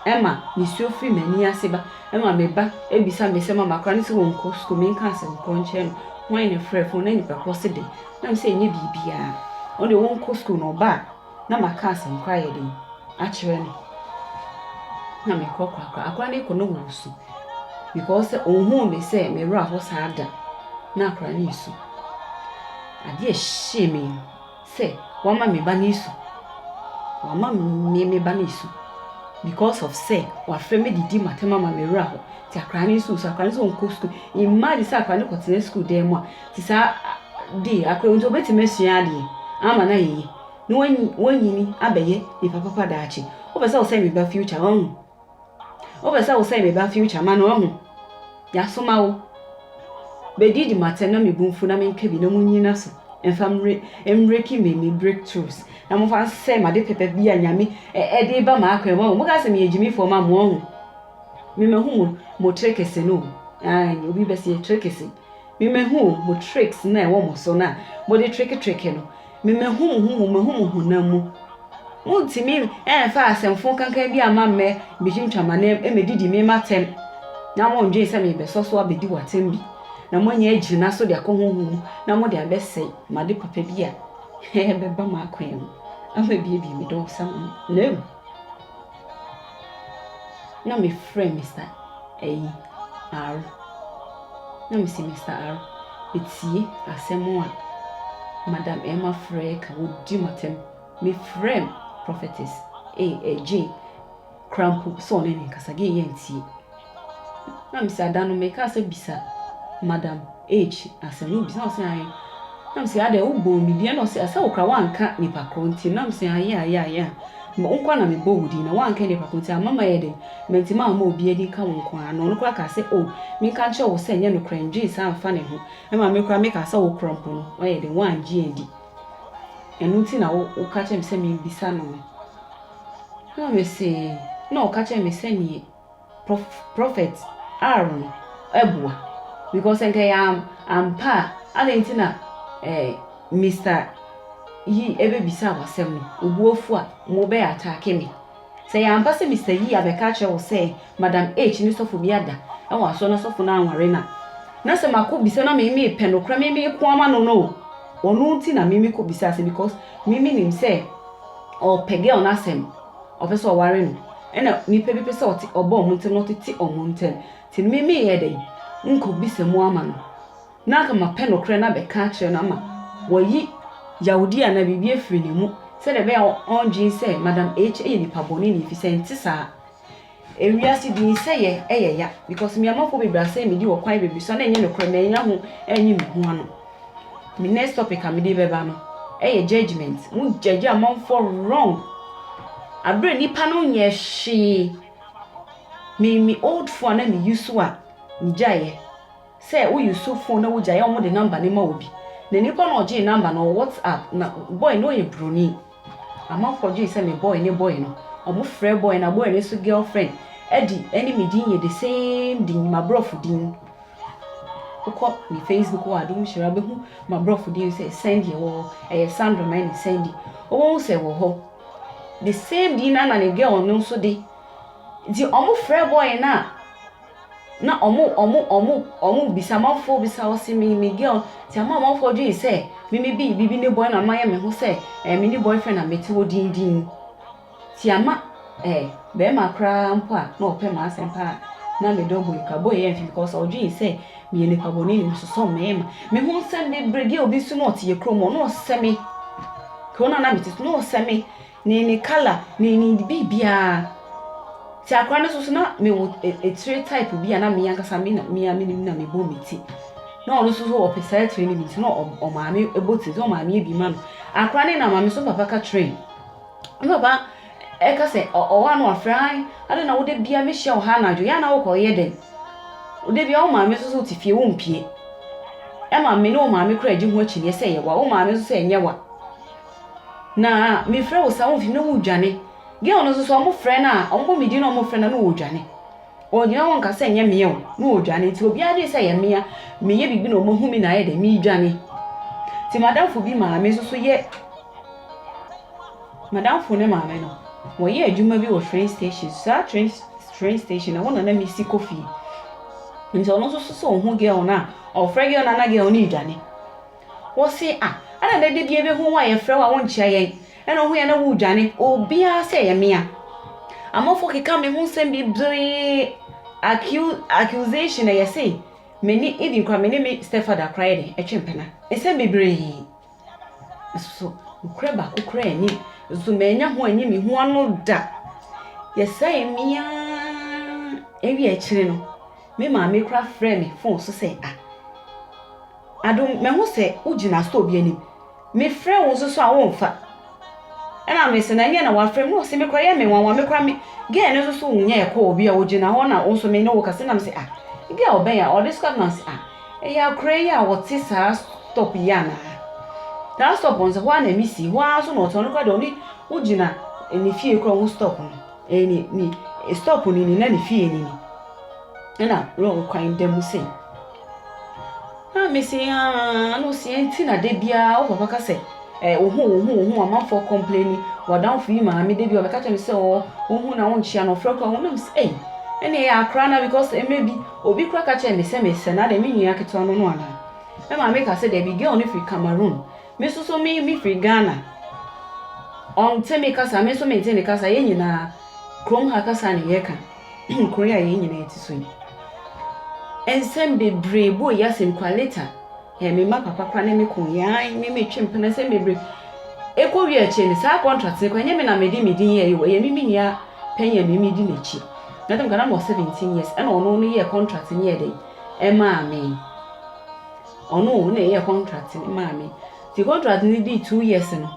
ɛma ne suo firi m'ani ase ba ɛma me ba ebisa me sɛ ma makora ne sɛ wɔn nkɔ sukuu me nkaa sɛ nkɔ nkyɛn no wɔn ne frɛ fon na nipa korɔ se de na me sɛ ɛnyɛ biribiara ɔno deɛ wɔn nkɔ sukuu na ɔba a. na maka asɛnkora ayɛ den akyerɛ no na mekorɔkorɔakora akora no ekɔ no wɔ su because sɛ ohuu me sɛ me werɛ aho saa da na akora no esu ade a ɛhyɛɛ me sɛ wama me ba no esu wama me me ba no esu because of sɛ wafrɛ me didi matam ama me werɛ aho te akora no nso su akora no nso nkɔ sukuu imagine sɛ akora no kɔtena sukuu dan mu a Te saa a, de akora mu nti obetumi asua ade ama no ayɛ yie na wanyi wanyin abɛyɛ nipa papa daakye. Wopɛ sɛ wosɛe me ba future wahu. Wopɛ sɛ wosɛe me ba future ma no wahu. Yɛasoma wo. Bɛdi di matɛ na mebu mfu na menka bi na munyi no aso mfa mmere mmereki me me breakthroughs na momfa nsɛe m'ade pɛpɛ bi a nyame ɛde ba m'akwan mu wahu. Moka sɛ meyɛ gyimifoɔ ma mo wahu. Memahu mo mo trekese no o. Aane obi bɛse yɛ trekese. Me mahu o, mo tricks no a ɛwɔ mo so no a mode treketreke no, me mahu mo ho mu, mahu mo honam mu. Montumi ɛmfa asɛmfo kankan bi amma mmɛ metwintwa m'anan mu ɛmɛdidi me m'atɛm, na mondwen sɛ merebɛsɔ so abɛdi w'atɛm bi, na moanya agyina so de akɔ honhom mu na mode abɛsɛe m'ade papa bi a ɛbɛba m'akwan mu ama abiebie me dɔɔ so ama me. No! Na me frɛ Mister ɛyi Aro. Na me se Mister Aro, me tie asɛm a Madam Emma frɛ ka wɔ di mo atɛm. Me frɛ Prophetess A. Jane kora mpo sɛ ɔne me nkasa, deɛ yɛ ntie. Na me se ah da no me kaa sɛ bisa madam H asem no bisa na ɔse ae na me se adɛn wo bɔɔ me din ɛna ɔse ah sɛ wo kora wanka nipa korɔ nti na me se ah yeah yeah yeah wo nkoa na me bɔ wo din na wanka nipa korɔ nti ama ma yɛ dɛn mantimi amma obia din ka wo nkoa na ɔno koraa kaa sɛ oh me nka nkyerɛ wo sɛ nyɛ nokorɛ ndwen saa mfa ne ho ɛma me koraa me kaa sɛ wo korɔ mpo no wayɛ dɛn wangye adi ɛno nti na wo woka kyerɛ me sɛ me bisa no no na me se na ɔka kyerɛ me sɛ nie prophet Aaron ɛboa because nka ɛyɛ ampa a adɛn nti na eh, Mr. Yi ɛbɛbisa wɔ asɛm no obuofu a mo bɛ ataake me sɛ yɛ ampa sɛ Mr. Yi abɛka akyerɛ wɔ sɛ Madam H ne sɔfo bi ada ɛwɔ asɔ na sɔfo no anware na na sɛ makɔ bisa na mimi pɛ no kora mimi ko ama no no wɔn nti na mimi kɔ bisa sɛ because mimi nim sɛ ɔpɛ girl no asɛm Ɔpɛ sɛ ɔware no. Ɛna nnipa bi pɛ sɛ ɔte ɔba wɔn ntam na ɔtete wɔn ntam. Nti me meyɛ dɛn? Menkɔbisa mu ama no. Na anka mapɛ nokorɛ no abɛka akyerɛ no ama wayi yawodeɛ anaa biribi afiri ne mu sɛdeɛ ɛbɛyɛ a ɔndwene sɛ Madam H. yɛ nipa bɔne no, ɛfiri sɛ ɛnte saa. Ewiase bi ni sɛ yɛ ɛyɛ ya because me amanfoɔ bebree asɛe me din wɔ kwan bebree so a na ɛnyɛ nokorɛ mannya ho anyi me ho ano me next topic a mede bɛba no ɛyɛ judgement mo judge amanfoɔ wrong aberɛ nipa no nyɛ hwee me me old phone a na me use a megyaeɛ sɛ wo use phone na wogyaeɛ a wɔde number no ma obi na nipa na ɔgyee number no wɔ whatsapp na boy no ɔyɛ broni Amanfoɔ dwene sɛ me boy ne boy no. Ɔmo frɛ boy na boy no nso girl friend ɛdi ɛne me din yɛ the same din m'abrɔfo din. Wokɔ me Facebook wɔ Adom Hyira wobɛhu m'abrɔfo din sɛ Sandy ɛwɔ hɔ ɛyɛ Sandra ma ɛne Sandy wobɛhu sɛ ɛwɔ hɔ the same din na na ne girl no nso de nti ɔmo frɛ boy no a Na ɔmo ɔmo ɔmo ɔmo bisa amanfoɔ bisa hɔ se me me girl nti ama amanfoɔ dwen sɛ me me bi bibi ne boy na mayɛ me ho sɛ ɛɛ me ne boyfriend na mete hɔ dindin ti ama ɛɛ bɛrima koraa mpo a na ɔpɛ maa asɛm paa na me dɔ boy kura boy yɛ mfe because ɔdwen sɛ meyɛ nipa bɔ ne ne masosɔ mmarima me ho nsɛm bebree girl bi nso na ɔte yɛ kurom ɔno ɔsɛ me kuro na na mete so na ɔsɛ me. Ne ne colour ne ne biribiara. Nti akora no soso na me wo etire type bi a na me ankasa me na me a me nim na me bɔ me ti. Na ɔno soso ɔpɛ saa etire no bi nti na ɔmaame ɛbɔ ti nti na ɔmaame ebi ma no. Akora no na maame so papa ka kyerɛ no. Ne papa ɛka sɛ ɔwɔ ano afrɛ ae ade na wode bia me hyia wɔ ha anadwo yɛ ana wokɔ yɛ dɛn. Wode bia wo maame soso te fie wo mpie. Ɛma me ne wo maame kora gye ho akyinnye sɛ yɛ wa wo maame soso ɛnyɛ wa. Na mefrɛ wo saa, womfi na wodwane. Girl no nso so, wɔfrɛ no a, wɔbɔ me din na wɔfrɛ no a, na ɔredwane. Ɔgyina hɔ nka sɛ ɛnyɛ mmea o, na ɔredwane. Nti obiara adwene sɛ ɛyɛ mmea, meyɛ biribi na wɔahu me na ayɛ dɛ, meredwane. Nti madamfo bi maame nso so yɛ, madamfo ne maame no, wɔyɛ adwuma bi wɔ train station, saa train train station no, ɛhɔ na na mesi kɔ fie. Nti ɔno nso so sɛ ɔhu girl no a, ɔfrɛ girl no a na girl no redwane. Wɔse a, ɛna dɛ dabia bɛhu wo a yɛfrɛ wo a wonkyea yɛn, ɛna wohu yɛn na woredwane, obiara sɛ ɛyɛ mea. Amafo keka me ho nsɛm bebree, accu accusation ɛyɛ se mene even koraa mene me stepfather koraa yɛde ɛtwe mpena. Nsɛm bebree. Nsoso nokorɛ baako koraa nnim, nsoso manya ho anyi me ho ano da. Yɛsɛe mea ɛwia akyire no, me maame koraa frɛɛ me phone so sɛ a, Adom, mahu sɛ wogyina store bi anim. Mefrɛɛ wo nso so a womfa. Ɛna mese no, ɛnyɛ na wafrɛ me. Ose me koraa ɛyɛ me nwanwa, me koraa me girl no nso so wonyɛɛ call bi a ogyina hɔ na wo nso me ne wo kasa. Ɛna mese ah, ebi a ɔbɛn a ɔde sika na ɔse ah, ɛyɛ akora yi a ɔte saa stop yi anaa? Saa stop no sɛ hɔ ara na ɛmi si, hɔ ara nso na ɔte, ɔno koraa deɛ ɔne wogyina ne fie koraa ɔhu stop no. Ɛyɛ ne, ne stop no ni na ne fie no ni. Ɛna lɔɔre kwan da mu sei. Na mese aa na ɔsi ɛnti na da biara wo papa ka sɛ eh, ohu ohu ohu amanfoɔ kɔmpleni wadamfo yi maame da bi ɔbɛka kyerɛ me sɛ ɔɔ ohu na wonkyia no ɔfrɛ kora ho na mese ei ɛne ɛyɛ akora na because mmerɛ bi obi kora ka kyerɛ me sɛ mesɛ na dɛ me nua ketewa no no anaa me maame ka sɛ daabi girl no firi Cameroon me nso so me me firi Ghana ɔnte me kasa me nso mente ne kasa yɛn nyinaa kurom ha kasa ne yɛka kuro yi a yɛn nyinaa te so yi. Nsɛm bebree bɔɔ yi asɛm kura leta. Ɛɛ me mma papa kora ne me ko yan me me twe mpena nsɛm bebree. Ekɔ wie akyire no saa contract ne kɔ ɛnyɛ me na me de me din yɛ yi wɔ yɛ me me nua panyin a me me di n'akyi. Na tam kana mo 17 years ɛna ɔno no yɛ contract ne yɛ den ɛmaa me. Ɔno na ɛyɛ contract ne maa me. Ti contract ne di two years no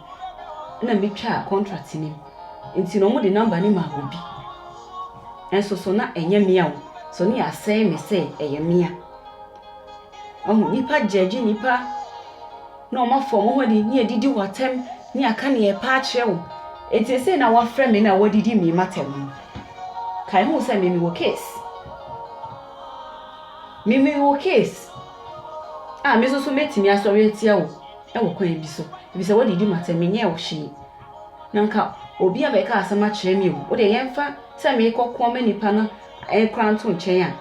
ɛna me twa contract ne mu. Nti no wɔde number no maa obi. Nso so na ɛnyɛ mea o. So ne yɛasɛe me sɛ ɛyɛ mea. Wahu? Nnipa gyɛɛgye nnipa na wɔn afa wɔn ho adi ne adidi wo atɛm ne aka nea ɛpɛ akyerɛ wo. Nti ɛsɛ na wɔafrɛ me na wɔadidi me matɛm no. Kae hu sɛ me mewɔ case. Me mewɔ case a me nso so mɛtumi asɔre atia wo ɛwɔ kwan bi so. Ebisa wɔadidi matɛm menyɛɛ wo hwee. Na anka obi abɛka asɛm akyerɛ me o, wo deɛ yɛmfa sɛ meekɔ ko ama nipa no koraa nto nkyɛn a,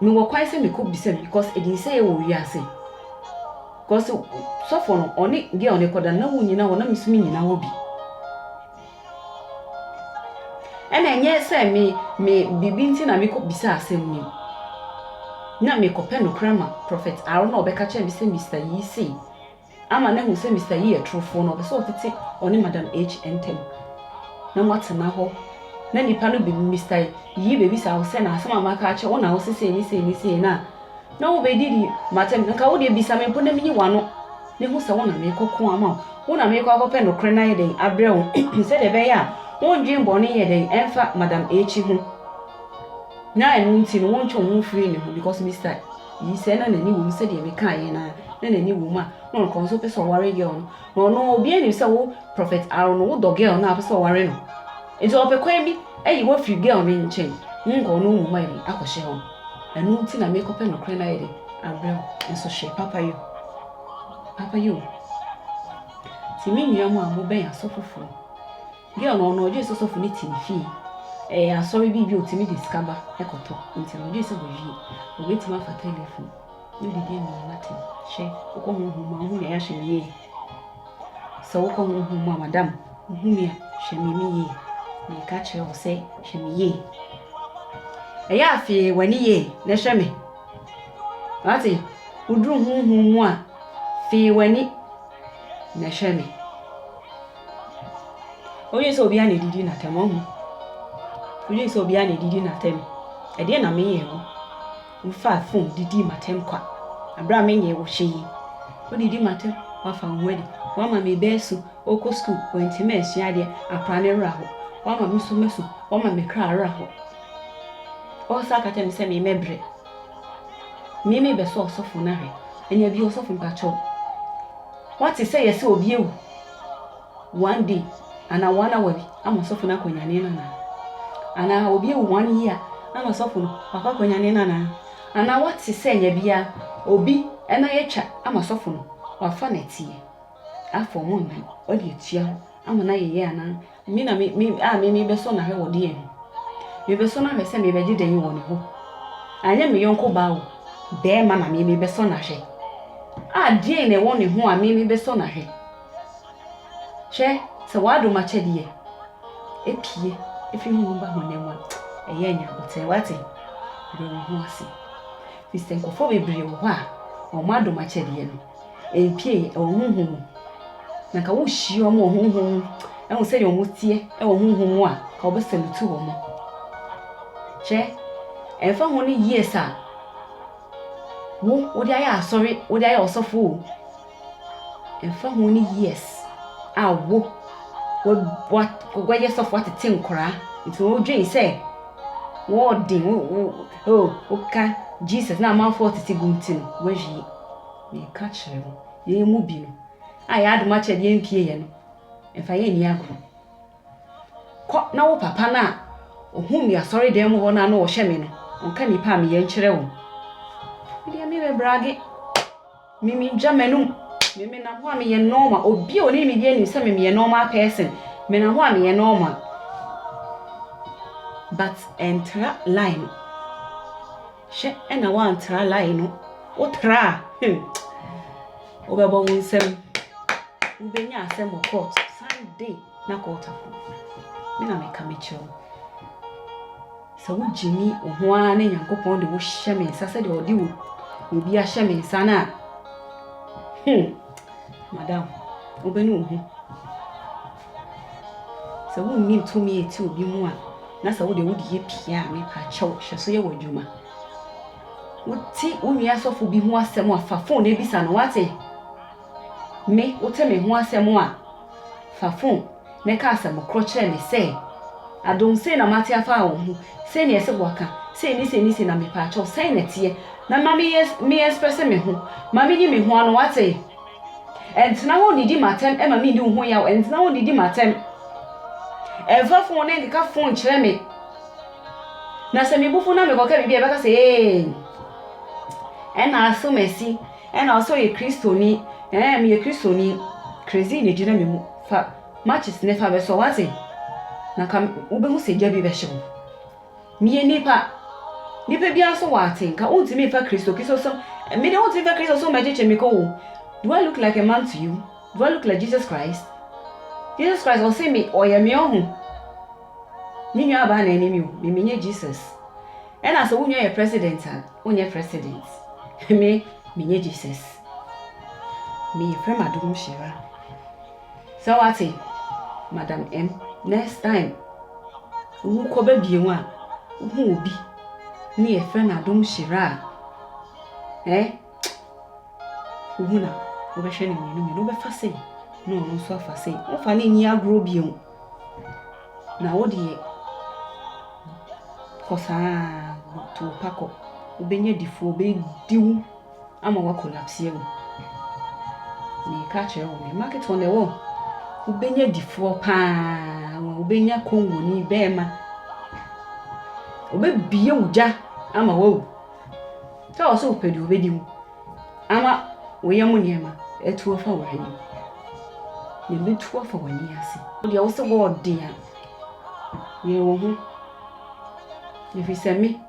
mewɔ kwan sɛ mekɔbisa bi because ɛdii sɛ yɛwɔ wiase. Because sɔfo no, ɔne girl no kɔda na wonnyina hɔ na me nso mennyina hɔ bi. Ɛna ɛnyɛ sɛ me me biribi nti na mekɔbisa asɛm ni. Na mekɔpɛ nokora ma Prophet Aaron na ɔbɛka kyerɛ me sɛ Mister Yii sei. ama no ahu sɛ Mister Yi yɛ torofoɔ na ɔpɛ sɛ ɔtete ɔne Madam H ntam na moatena hɔ na nnipa no bi Mister Yi bɛbisa wo sɛ na asɛm a maka akyerɛ wo na wo se sei ne sei ne sei no a na wobɛdidi m'atɛm nka wo deɛ bisa me mpo na menyi w'ano na hu sɛ wo na merekɔ ko ama wo wo na merekɔ akɔpɛ nokorɛ no ayɛ dɛn abrɛ wo sɛdeɛ ɛbɛyɛ a wondwen bɔne yɛ dɛn ɛmfa Madam H ho na ɛno nti no wontwe wo ho mfiri ne ho because Mister Yi sɛ na n'ani wom sɛdeɛ mekaeɛ no ara na n'ani wom a na ɔno koraa ɔnso pɛ sɛ ɔware girl no na ɔno obiara nim sɛ wo prophet Aaron no wodɔ girl no a wopɛ sɛ ɔware no nti ɔpɛ kwan bi ayi wo afiri girl no nkyɛn wonkɔ no mu ma bi akɔhyɛ hɔ ɛno nti na mekɔpɛ nokorɛ no ayɛ den abrɛ wo nso hwɛ papa yo papa yo nti me nua mu a mobɛn asɔfofoɔ Bi a ɔno ɔgye sɛ sɔfo no ti ne fie. Ɛyɛ asɔre bi bi a otumi de sika ba kɔtɔ. Nti no ɔgye sɛ wɔwie a obetumi afa telefon no de di dwuma no atɛn. Hwɛ, wokɔ honhom mu a wohu nea yɛahyɛ no yie. Sɛ wokɔ honhom mu a madam, wohu me a, hwɛ me me yie. Meka kyerɛ wo sɛ hwɛ me yie. Ɛyɛ a fee w'ani yie na hwɛ me. Wate? Woduru honhom mu a, fee w'ani na hwɛ me. Wodwen sɛ obiara na edidi n'atɛm, wahu? Wodwen sɛ obiara na edidi n'atɛm. Ɛdeɛn na meyɛɛ wo? Wofaa fon didii m'atɛm kwa bere a menyɛɛ wo hwee. Wodidi m'atɛm, woafa wo ho adi. Woama me bɛ asu, wokɔ sukuu, woantumi ansua adeɛ, akora ne werɛ aho. Woama me so masu, woama me kra awerɛ aho. Wosan ka kyerɛ me sɛ memmɛbrɛ. Me me bɛ sɔ ɔsɔfo na hwɛ. Ɛnea bi ɔsɔfo mpakyɛw. Wate sɛ yɛsɛ obi awu. One day ana one hour bi ama ɔsɔfo no akɔ nyane no ana. Ana obi awu one year ana ɔsɔfo no wakɔ akɔ nyane no ana. Ana wate sɛ ɛnya bia obi ɛna yɛtwa ama ɔsɔfo no wafa na ɛteɛ. Afa ɔmo nnan ɔde atua hɔ ama na yɛyɛ ana. Me na me me a me mebɛsɔ no ahwɛ wɔ deɛn ho? Mebɛsɔ no ahwɛ sɛ mebɛgye dɛn wɔ ne hɔ? Anyɛ me yɔnko baa o, bɛɛma na me mebɛsɔ no ahwɛ. A deɛn na ɛwɔ ne ho a me mebɛsɔ no ahwɛ? Hwɛ, sɛ w'adom akyɛdeɛ apue afiri honhom mu ba honam mu a, ɛyɛ nyɛ aboterɛ. Wate? Brɛ wo ho ase. Firi sɛ nkurɔfoɔ bebree wɔ hɔ a, wɔn adom akyɛdeɛ no, Mpie wɔ honhom mu. Na nka wohyia wɔn wɔ honhom mu hu sɛdeɛ wɔn teɛ wɔ honhom mu a, nka wɔbɛsalutu wɔn. Hwɛ, ɛmfa ho ne years a wo wode ayɛ asɔre, wode ayɛ ɔsɔfo o, ɛmfa ho ne years a wo wɔyɛ sɔfo atete nkoraa, nti wodwen sɛ wɔɔden, wo, wo, oh, woka Jesus na amanfoɔ tete gu nti no, wawie. Meka kyerɛ mo, yɛn mu bi no, a yɛn adom akyɛdeɛ mpie yɛ no, mfa yɛn nni agorɔ. Kɔ na wo papa no a ɔhuu me asɔredan mu hɔ no a na ɔhwɛ me no, ɔnka nnipa a meyɛ nkyerɛ wɔn. Me deɛ merebɛbrage, me mentwa m'anom, me menam hɔ a meyɛ normal. Obi a ɔnim me bi anim sɛ me meyɛ normal person, menam hɔ a meyɛ normal. But ɛntra line no. Hwɛ na woantra line no. Wotra a, hmm, wobɛbɔ ho nsɛm. Wobɛnya asɛm wɔ court. Sunday na court afo. Me na meka mekyerɛ wo. Sɛ wogye me wo ho ara ne Nyankopɔn de wohyɛ me nsa sɛdeɛ ɔde wo obi ahyɛ me nsa no a, hmm, madam, wobɛnu wo ho. Sɛ wonnim tumi a ɛte obi mu a, na sɛ wo deɛ wode yɛ pii a, me pa kyɛw, hyɛ so yɛ w'adwuma. Wo te wo nua sɔfo bi ho asɛm a, fa fon no bisa no, wate? Me, wo te me ho asɛm a, fa fon no ka asɛm korɔ kyerɛ me sɛ, Adom, sei na mate afa wo ho, sei na ɛsɛ waka, sei ne sei ne sei na me pa kyɛw, sɛn na ɛteɛ? Na ma me yɛ, me express me ho, ma me nyi me ho ano, wate? Ntena hɔ nnidi m'atɛm mma menni wo ho yaw, ntena hɔ nnidi m'atɛm. Mfa fon ne nkeka fon nkyerɛ me. Na sɛ mebu fo na mekɔka biribi a, ɛbɛka sɛ ee. Ɛna aso m'asi, ɛna ɔsɛ ɔyɛ Kristoni, ɛɛ meyɛ Kristoni. Crazy na ɛgyina me mu, fa matches ne fa bɛsɔ, wate? Na ka wobɛhu sɛ gya bi bɛhye wo. Meyɛ nipa. Nipa biara nso wɔ atenka. Wontumi mfa Kristo Kristosom. Me de wontumi mfa Kristosom bɛkyekye me kɔ o. Do I look like a man to you? Do I look like Jesus Christ? Jesus Christ ɔse me ɔyɛ me ɔho. Me nua abaa na ɛne me o. Me menyɛ Jesus. Ɛna sɛ wo nua yɛ president a, wonyɛ president. Me menyɛ Jesus. Meyɛ prima dom hyira. Sɛ wate? Madam M, next time wokɔba bio a, wohu obi ne yɛfrɛ no Adomhyira a, eh, wohu no a, wobɛhwɛ no mmienu mmienu. Wobɛfa sei na ɔno nso afa sei. Womfa no nni agorɔ bio. Na wo deɛ, kɔ saa, to wo pa kɔ. Wobɛnya difoɔ, wɔbɛdi wo. ama wa collapse awu meka kyerɛ wo ne market wɔn ɛwɔ wobɛnya difoɔ paa wɔn wobɛnya kongoni bɛɛma obɛbie wo gya ama wawu sɛ wɔ sɛ wopɛ deɛ obɛdi mu ama woyɛ mo nneɛma ɛtuo fa wɔ anim na ɛbɛtuo afa w'ani ase deɛ wo sɛ wɔɔden a yɛ wo ho ɛfiri sɛ me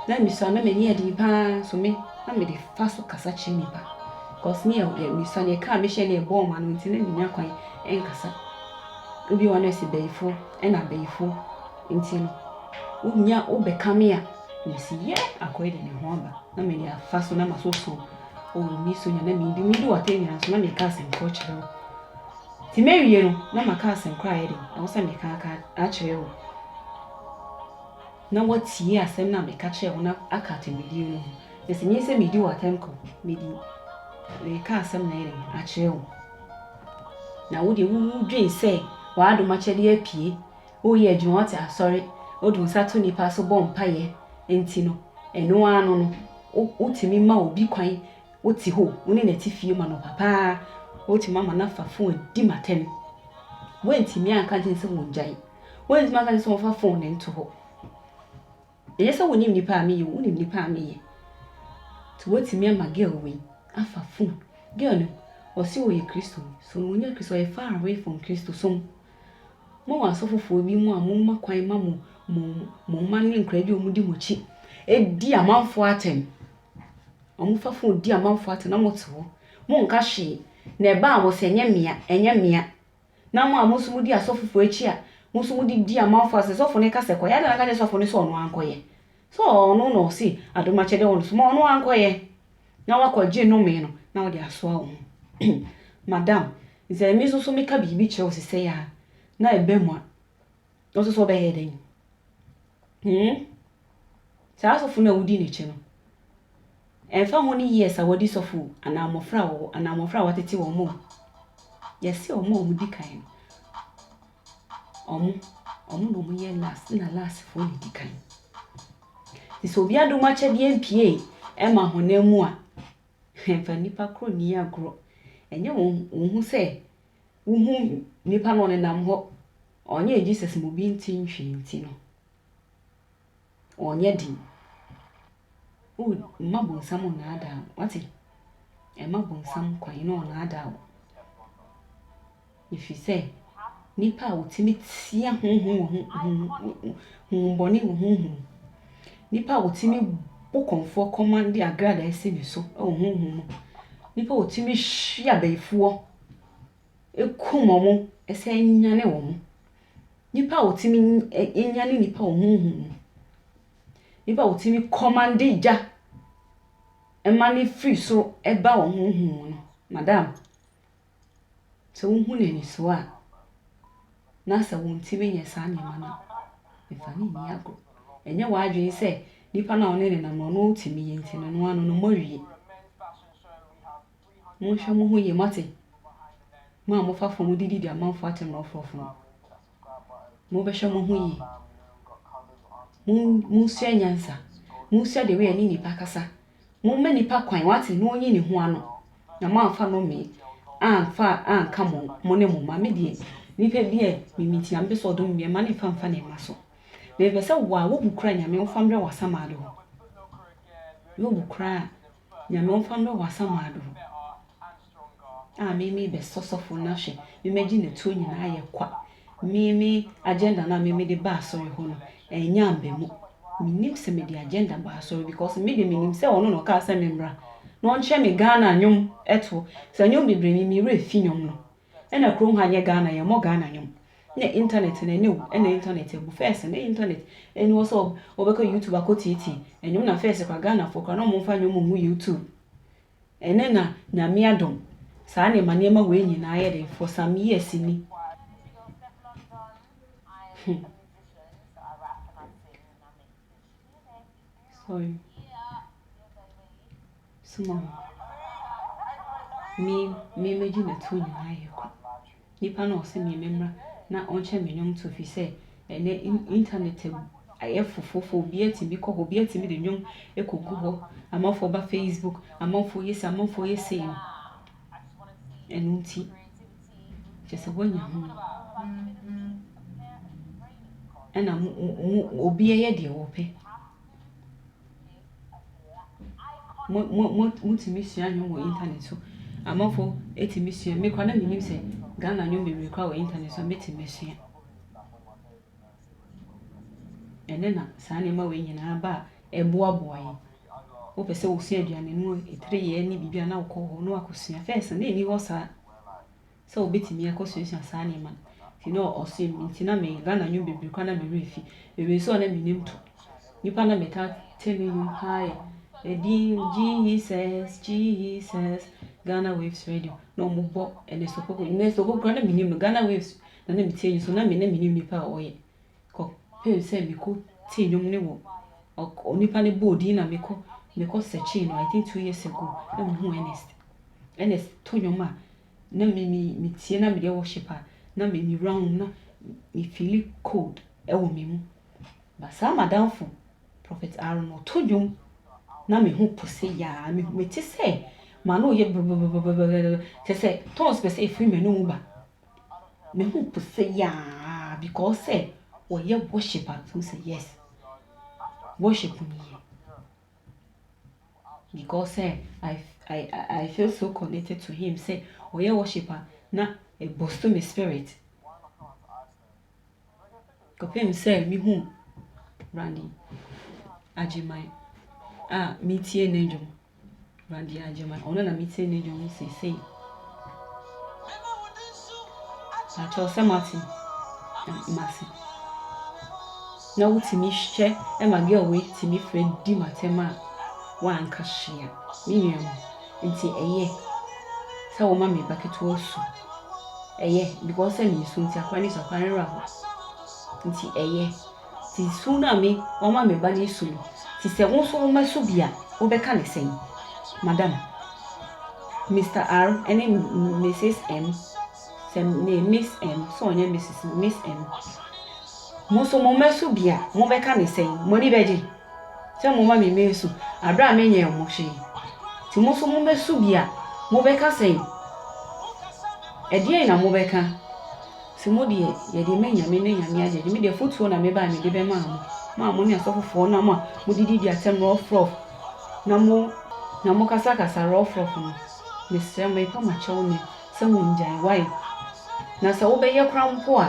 na misua na m'ani yɛ den paa so me na mede fa so kasa kyerɛ nnipa cause me yɛ misua no yɛkaa mehyɛ no ɛbɔɔ ma no nti na mennya kwan nkasa obi wɔ no ɛsɛ bayifoɔ ɛna abayifoɔ nti no wonya wobɛka me a mesi yɛ akɔyɛ de ne ho aba na mede afa so na maso so ɔwɔ mi so nya na mendi medu wate nyina so na meka asɛm korɔ kyerɛ wo nti mɛwie no na maka asɛm korɔ ayɛ den ɛwɔ sɛ meka aka akyerɛ wo na wɔatie asɛm no a meka kyerɛɛ wo na aka atemmudeɛ no ho, na sɛ ɛnyɛ sɛ meredi wo atɛm ko, mede reka asɛm na ɛyɛ den akyerɛ wo. Na wo deɛ wodwen sɛ w'adom akyɛdeɛ apue, woyɛ adwuma, wote asɔre, wode wo nsa to nnipa so bɔ mpaeɛ nti no, ɛno ara no no, wotumi ma obi kwan, wote hɔ, wo ne no te fie ma no papa ara, wotumi ama no afa fon adi m'atɛm. Woantumi anka nkyerɛ no sɛ ɔngyae. Woantumi anka sɛ wɔmfa fon no nto hɔ. Ɛnyɛ sɛ wonim nipa a meyɛ, wonim nipa a meyɛ. Nti woatumi ama girl wei afa fon. Girl no, ɔse ɔyɛ Kristoni. So ɔnyɛ Kristoni, ɔyɛ far away from Kristosom. Mo wɔ asɔfofoɔ bi mu a momma kwan ma mo mo mo mma ne nkwadaa bi a wɔdi mo akyi di amanfoɔ atɛm. Wɔfa fon di amanfoɔ atɛm na mote hɔ. Monnka hwee. Na ɛbaa mo sɛ ɛnyɛ mmea, ɛnyɛ mmea. Na mo a mo nso modi asɔfofo akyi a, mo nso mode di amanfo a sɛ sɔfo no ka sɛ kɔyɛ ade a na anka ɛnyɛ sɔfo no sɛ ɔno ankɔyɛ. Sɛ ɔno na ɔse adom akyɛde wɔ no so ma ɔno ankɔyɛ na wakɔgye nnome no na wode asoa wo ho. Madam, sɛ me nso so meka biribi kyerɛ wo sesɛi ara na ɛba mu a, No nso so ɔbɛyɛ dɛn? Hmm? Saa sɔfo no a wodi n'akyi no, ɛmfa ho ne years a wadi sɔfo anaa mmɔfra a wɔwɔ anaa mmɔfra a wɔatete wɔn mu. Yɛse wɔn a wɔdi kan no, wɔn, wɔn na wɔyɛ last na lastfoɔ na ɛdi kan. Nti sɛ obi adom akyɛdeɛ mpie ɛma honam mu a, ɛmfa nnipa korɔ nni agorɔ. Ɛnyɛ wɔn, wɔn ho sɛ wohu nipa na ɔnenam hɔ, ɔnyɛ Jesus mu bi ntsi nhwi ntsi no, ɔnnyɛ den. O, mma bonsam nnaadaa wo, wate? Mma bonsam kwan na ɔnnaadaa wo. Efisɛ nipa a otumi tsia honhom wɔ ho ho ho honhom bɔne wɔ honhom mu, nipa a otumi bɔ kɔmfoɔ kɔma de agradaa si ne so wɔ honhom mu, nipa a otumi hwe abayifoɔ kum wɔn san nyane wɔn. Nnipa a wɔtumi ny ɛ nyane nnipa wɔ honhom mu. Nnipa a wɔtumi kɔmande gya ma no firi soro ba wɔn honhom mu no, madam, sɛ wohu no anisoɔ a, na sɛ wɔntumi nyɛ saa nneɛma no a, mfa no nni agorɔ. Ɛnyɛ w'adwene sɛ nipa no a wo ne no nam no, ɔno ɔtumi yi nti no, ɔno ara no, no mmɔ awie. Monhwɛ mo ho yie, moate? Mo a mofa fam de didi amanfoɔ atemmuroforɔfo no, mobɛhwɛ mo ho yie. Mon, monsua nyansa. Monsua the way a ɛne nnipa kasa. Momma nnipa kwan, wate, na ɔnyi ne ho ano. Na moamfa nnome amfa anka mo, mo ne mo mma. Me deɛ, nnipa bi a mimi nti na mepɛ sɛ ɔdom me mma no mfa mfa ne mma so. Mepɛ sɛ wo a, wobu kura Nyame, wofa mbrɛ w'asamado hɔ. Wobu kura a. Nyame ɔmfa mbrɛ wo asamaa do a me me bɛ sɔ sɔfo na hwɛ me mɛgye ne tuo nyinaa ayɛ kwa me me agenda no a me me de ba asɔre hɔ no ɛnyɛ amba mu me nim sɛ me de agenda ba asɔre because me de me nim sɛ ɔno na ɔkaa sɛ me mbra na ɔnkyerɛ me Ghana nwom ɛtoɔ sɛ nwom bebree me me werɛ fi nwom no Ɛna krom ha nyɛ Ghana yɛmmɔ Ghana nwom ne internet no ɛnɛ o ɛna internet abu first no internet ɛni hɔ sɛ wobɛkɔ YouTube akɔ tietie ɛnwom na first kora Ghana foɔ kora na ɔmo mfa nwom ngu YouTube ɛnɛ na nyame adom saa na ɛma nneɛma wei nyinaa yɛ den for some years ni hmm. Sorry. Soma mu. Me, me megye n'atuo nyinaa yɛ kwa. Nipa na ɔsɛ me memmra na ɔnkyɛ me nnwom to fi sɛ ɛnɛ internet ayɛ fofofo obi atumi kɔ hɔ obi atumi de nnwom ekogu hɔ amanfoɔ ba facebook amanfoɔ yɛ sɛ amanfoɔ yɛ sɛ no Ɛno nti, kyerɛ sɛ woanya ho no ɛna mo mo obi yɛ deɛ wɔpɛ mo mo mo motumi sua nnwom wɔ internet so amanfo etumi sua me kora na menim sɛ ghana nnwom bebree kora wɔ internet so a metumi sua Ɛnnɛ na saa nneɛma wei nyinaa aba a ɛboaboa yɛn. Wopɛ sɛ wosua aduane mu aduruyɛ ne biribi a na wokɔ hɔ na wakɔsua. Fɛs na ɛnni hɔ saa sɛ wobɛtumi akɔsuasua saa nneɛma no. Nti na ɔse nti na me Ghana nnwom bebree koraa na me werɛ fi. Bebree nso a na menim to. Nnipa na metaa te ne nnwom paa yɛ ɛdin Jesus, Jesus, Ghana waves radio na wɔbɔ Ernest Opoku. Ernest Opoku koraa na menim no Ghana waves Na na mete nso na me ne menim nipa a ɔyɛ kɔ pɛm sɛ me kɔ te nnwom ne wɔ onipa ne bɔɔ din na me kɔ me kɔ searching no I think two years ago na me hu Ernest Ernest to nnwom a na me me me tie na me deɛ worship a na me me wura na me feel cold ɛwɔ me mu ba saa madamfo prophet Aaron ɔto nnwom na me ho po se yaa me me te sɛ ma no yɛ bɛbɛbɛbɛbɛ kyɛ sɛ tons pɛ sɛ efiri m'anum ba me ho po sɛ yaa because sɛ wɔyɛ worship a mehu sɛ yes worship no yɛ because sɛ I, I, I feel so connected to him sɛ ɔyɛ worship a na ɛbɔ so me spirit. kɔpem sɛ mehu Randi Agyeman a metie ne dwom. Randi Agyeman, ɔno na metie ne dwom seesei. Akyɛw sɛ mate mase. Na wotumi hwɛ ma girl wei tumi frɛ di matem a wanka hyia. Me nua mu. Nti ɛyɛ sɛ wɔma me ba ketewa su. Ɛyɛ because sɛ mesu nti akwadaa no su a, akwadaa no werɛ how. Nti ɛyɛ. Nti su no a me wɔma me ba no su no, nti sɛ wo nso woma su bi a, wobɛka no sɛn? Madam, Mister R ne Misis M, sɛ me yɛ Miss M, sɛ ɔnyɛ Misis, Miss M, mo nso moma su bi a, mobɛka no sɛn? Mo ani bɛgye? Sɛ momma me mensu, bere a menyɛɛ mo hwee. Enti mo nso mummesu bi a, mobɛka sɛn? Ɛdeɛn na mobɛka? Sɛ mo deɛ, yɛde ma anyame ne anyame agyegye. Me deɛ, afotuo na mebae mede bɛmaa mo, mo a mo ne asɔfofoɔ nam a modididi atɛm rɔfrɔf na mo na mokasakasa rɔfrɔf no. Mesrɛ mo, mepa mo akyɛw nnɛ sɛ mongyae wae. Na sɛ wobɛyɛ koraa mpo a,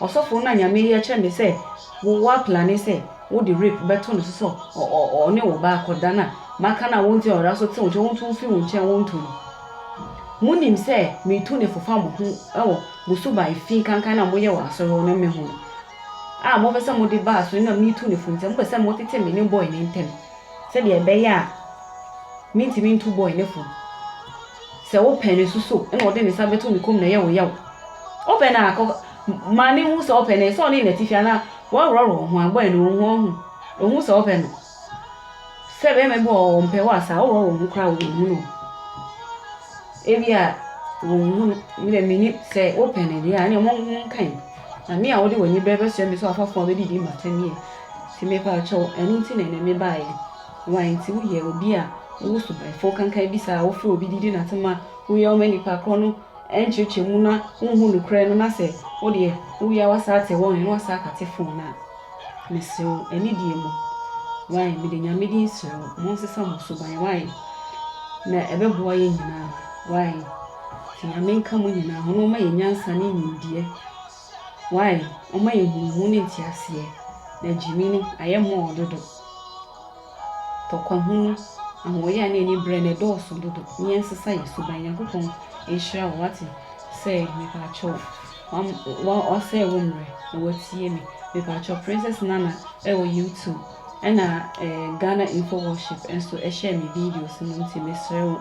Ɔsɔfo no na nyame yi ɛkyerɛ me sɛ wo wa plane sɛ wo de rape bɛto no so sɛ ɔne wo ba akɔ da na maka no a wo nti ɔra so te wo nkyɛn wo nto mfiri wo nkyɛn wo nto no mo nim sɛ me tu ne fofa mo ho ɛwɔ mo su ba efi kankan na mo yɛ wɔ asɔre hɔ no me ho no a mo fɛ sɛ mo de ba asɔre na me tu ne fo nti mo pɛ sɛ mo tete me ne boy ne ntɛm Sɛdeɛ ɛbɛyɛ a mentumi nto boy no fo Sɛ wopɛ no so so na ɔde ne nsa bɛto ne kɔn mu na ɛyɛ wo yaw Wopɛ no a kɔ ma me hu sɛ wopɛ no Sɛ ɔne n'atifi anaa woaworɔworɔ wo ho a Boy no ɔhu ɔhu ɔhu sɛ wopɛ no Sɛ bɛrima bi wɔ hɔ a ɔmpɛ wo a saa woworɔworɔ wo ho koraa a ɔnhu no Ebia ɔnhu no, me deɛ mennim Sɛ wopɛ no deɛ a ɛneɛ monka yi Na me a wode w'ani brɛ bɛsoɛ me sɛ w'afɔfoɔ a wɔadidi mmata nie. Enti mepaakyɛw, ɛno nti na ɛnnɛ mebaeɛ. Wai nti woyɛ obi a wowɔ subanfo kankan bi saa a wofrɛ obi didi nnate ma woyɛ wo ma nnipa korɔ no nkyerɛkyerɛ mu na wonhu nokorɛ no na sɛ wodeɛ woyɛ a woasan ate wɔn nne na woasan akate fon no a? Mesere wo, anidie mu. Wai, mede Nyame din sere wo, monsesa mo suban, wai, na ɛbɛboa yɛn nyinaa, wai, nti Nyame nka mo nyinaa ho na ɔma yɛn nyansa ne nimdeɛ, wai, ɔma yɛn nhunumu ne nteaseɛ, na gyimi no ayɛ mɔɔ dodo. tɔkwahunu, ahoɔyaa ne anibrɛ na ɛdɔɔso dodo ne yɛn nsesa yɛ suban Nyankopɔn nhyira wo wate sɛ mepakyɛw wa wasɛe wo mmerɛ na watie me mepakyɛw Princess Nana ɛwɔ YouTube ɛna eh, Ghana Info Worship nso ɛhyɛ me videos no nti mesrɛ wo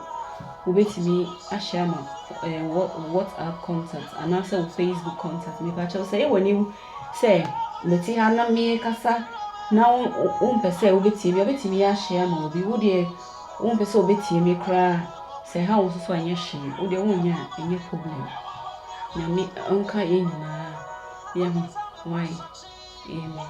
wobɛtumi ahyɛ ama eh, WhatsApp contact anaasɛ wo Facebook contact mepakyɛw sɛ ɛwɔ ne sɛ mete ha na merekasa na wompɛ sɛ wobɛtie me a, wobɛtumi ahyɛ ama obi. Wo deɛ, wompɛ sɛ wɔbɛtie me koraa. Sɛ ɛha wo nso so a, ɛnyɛ hwee. Wo deɛ, wonnya a, ɛnyɛ problem. Nyame ɔnka yɛn nyinaa yɛ ho. Wae? Amen.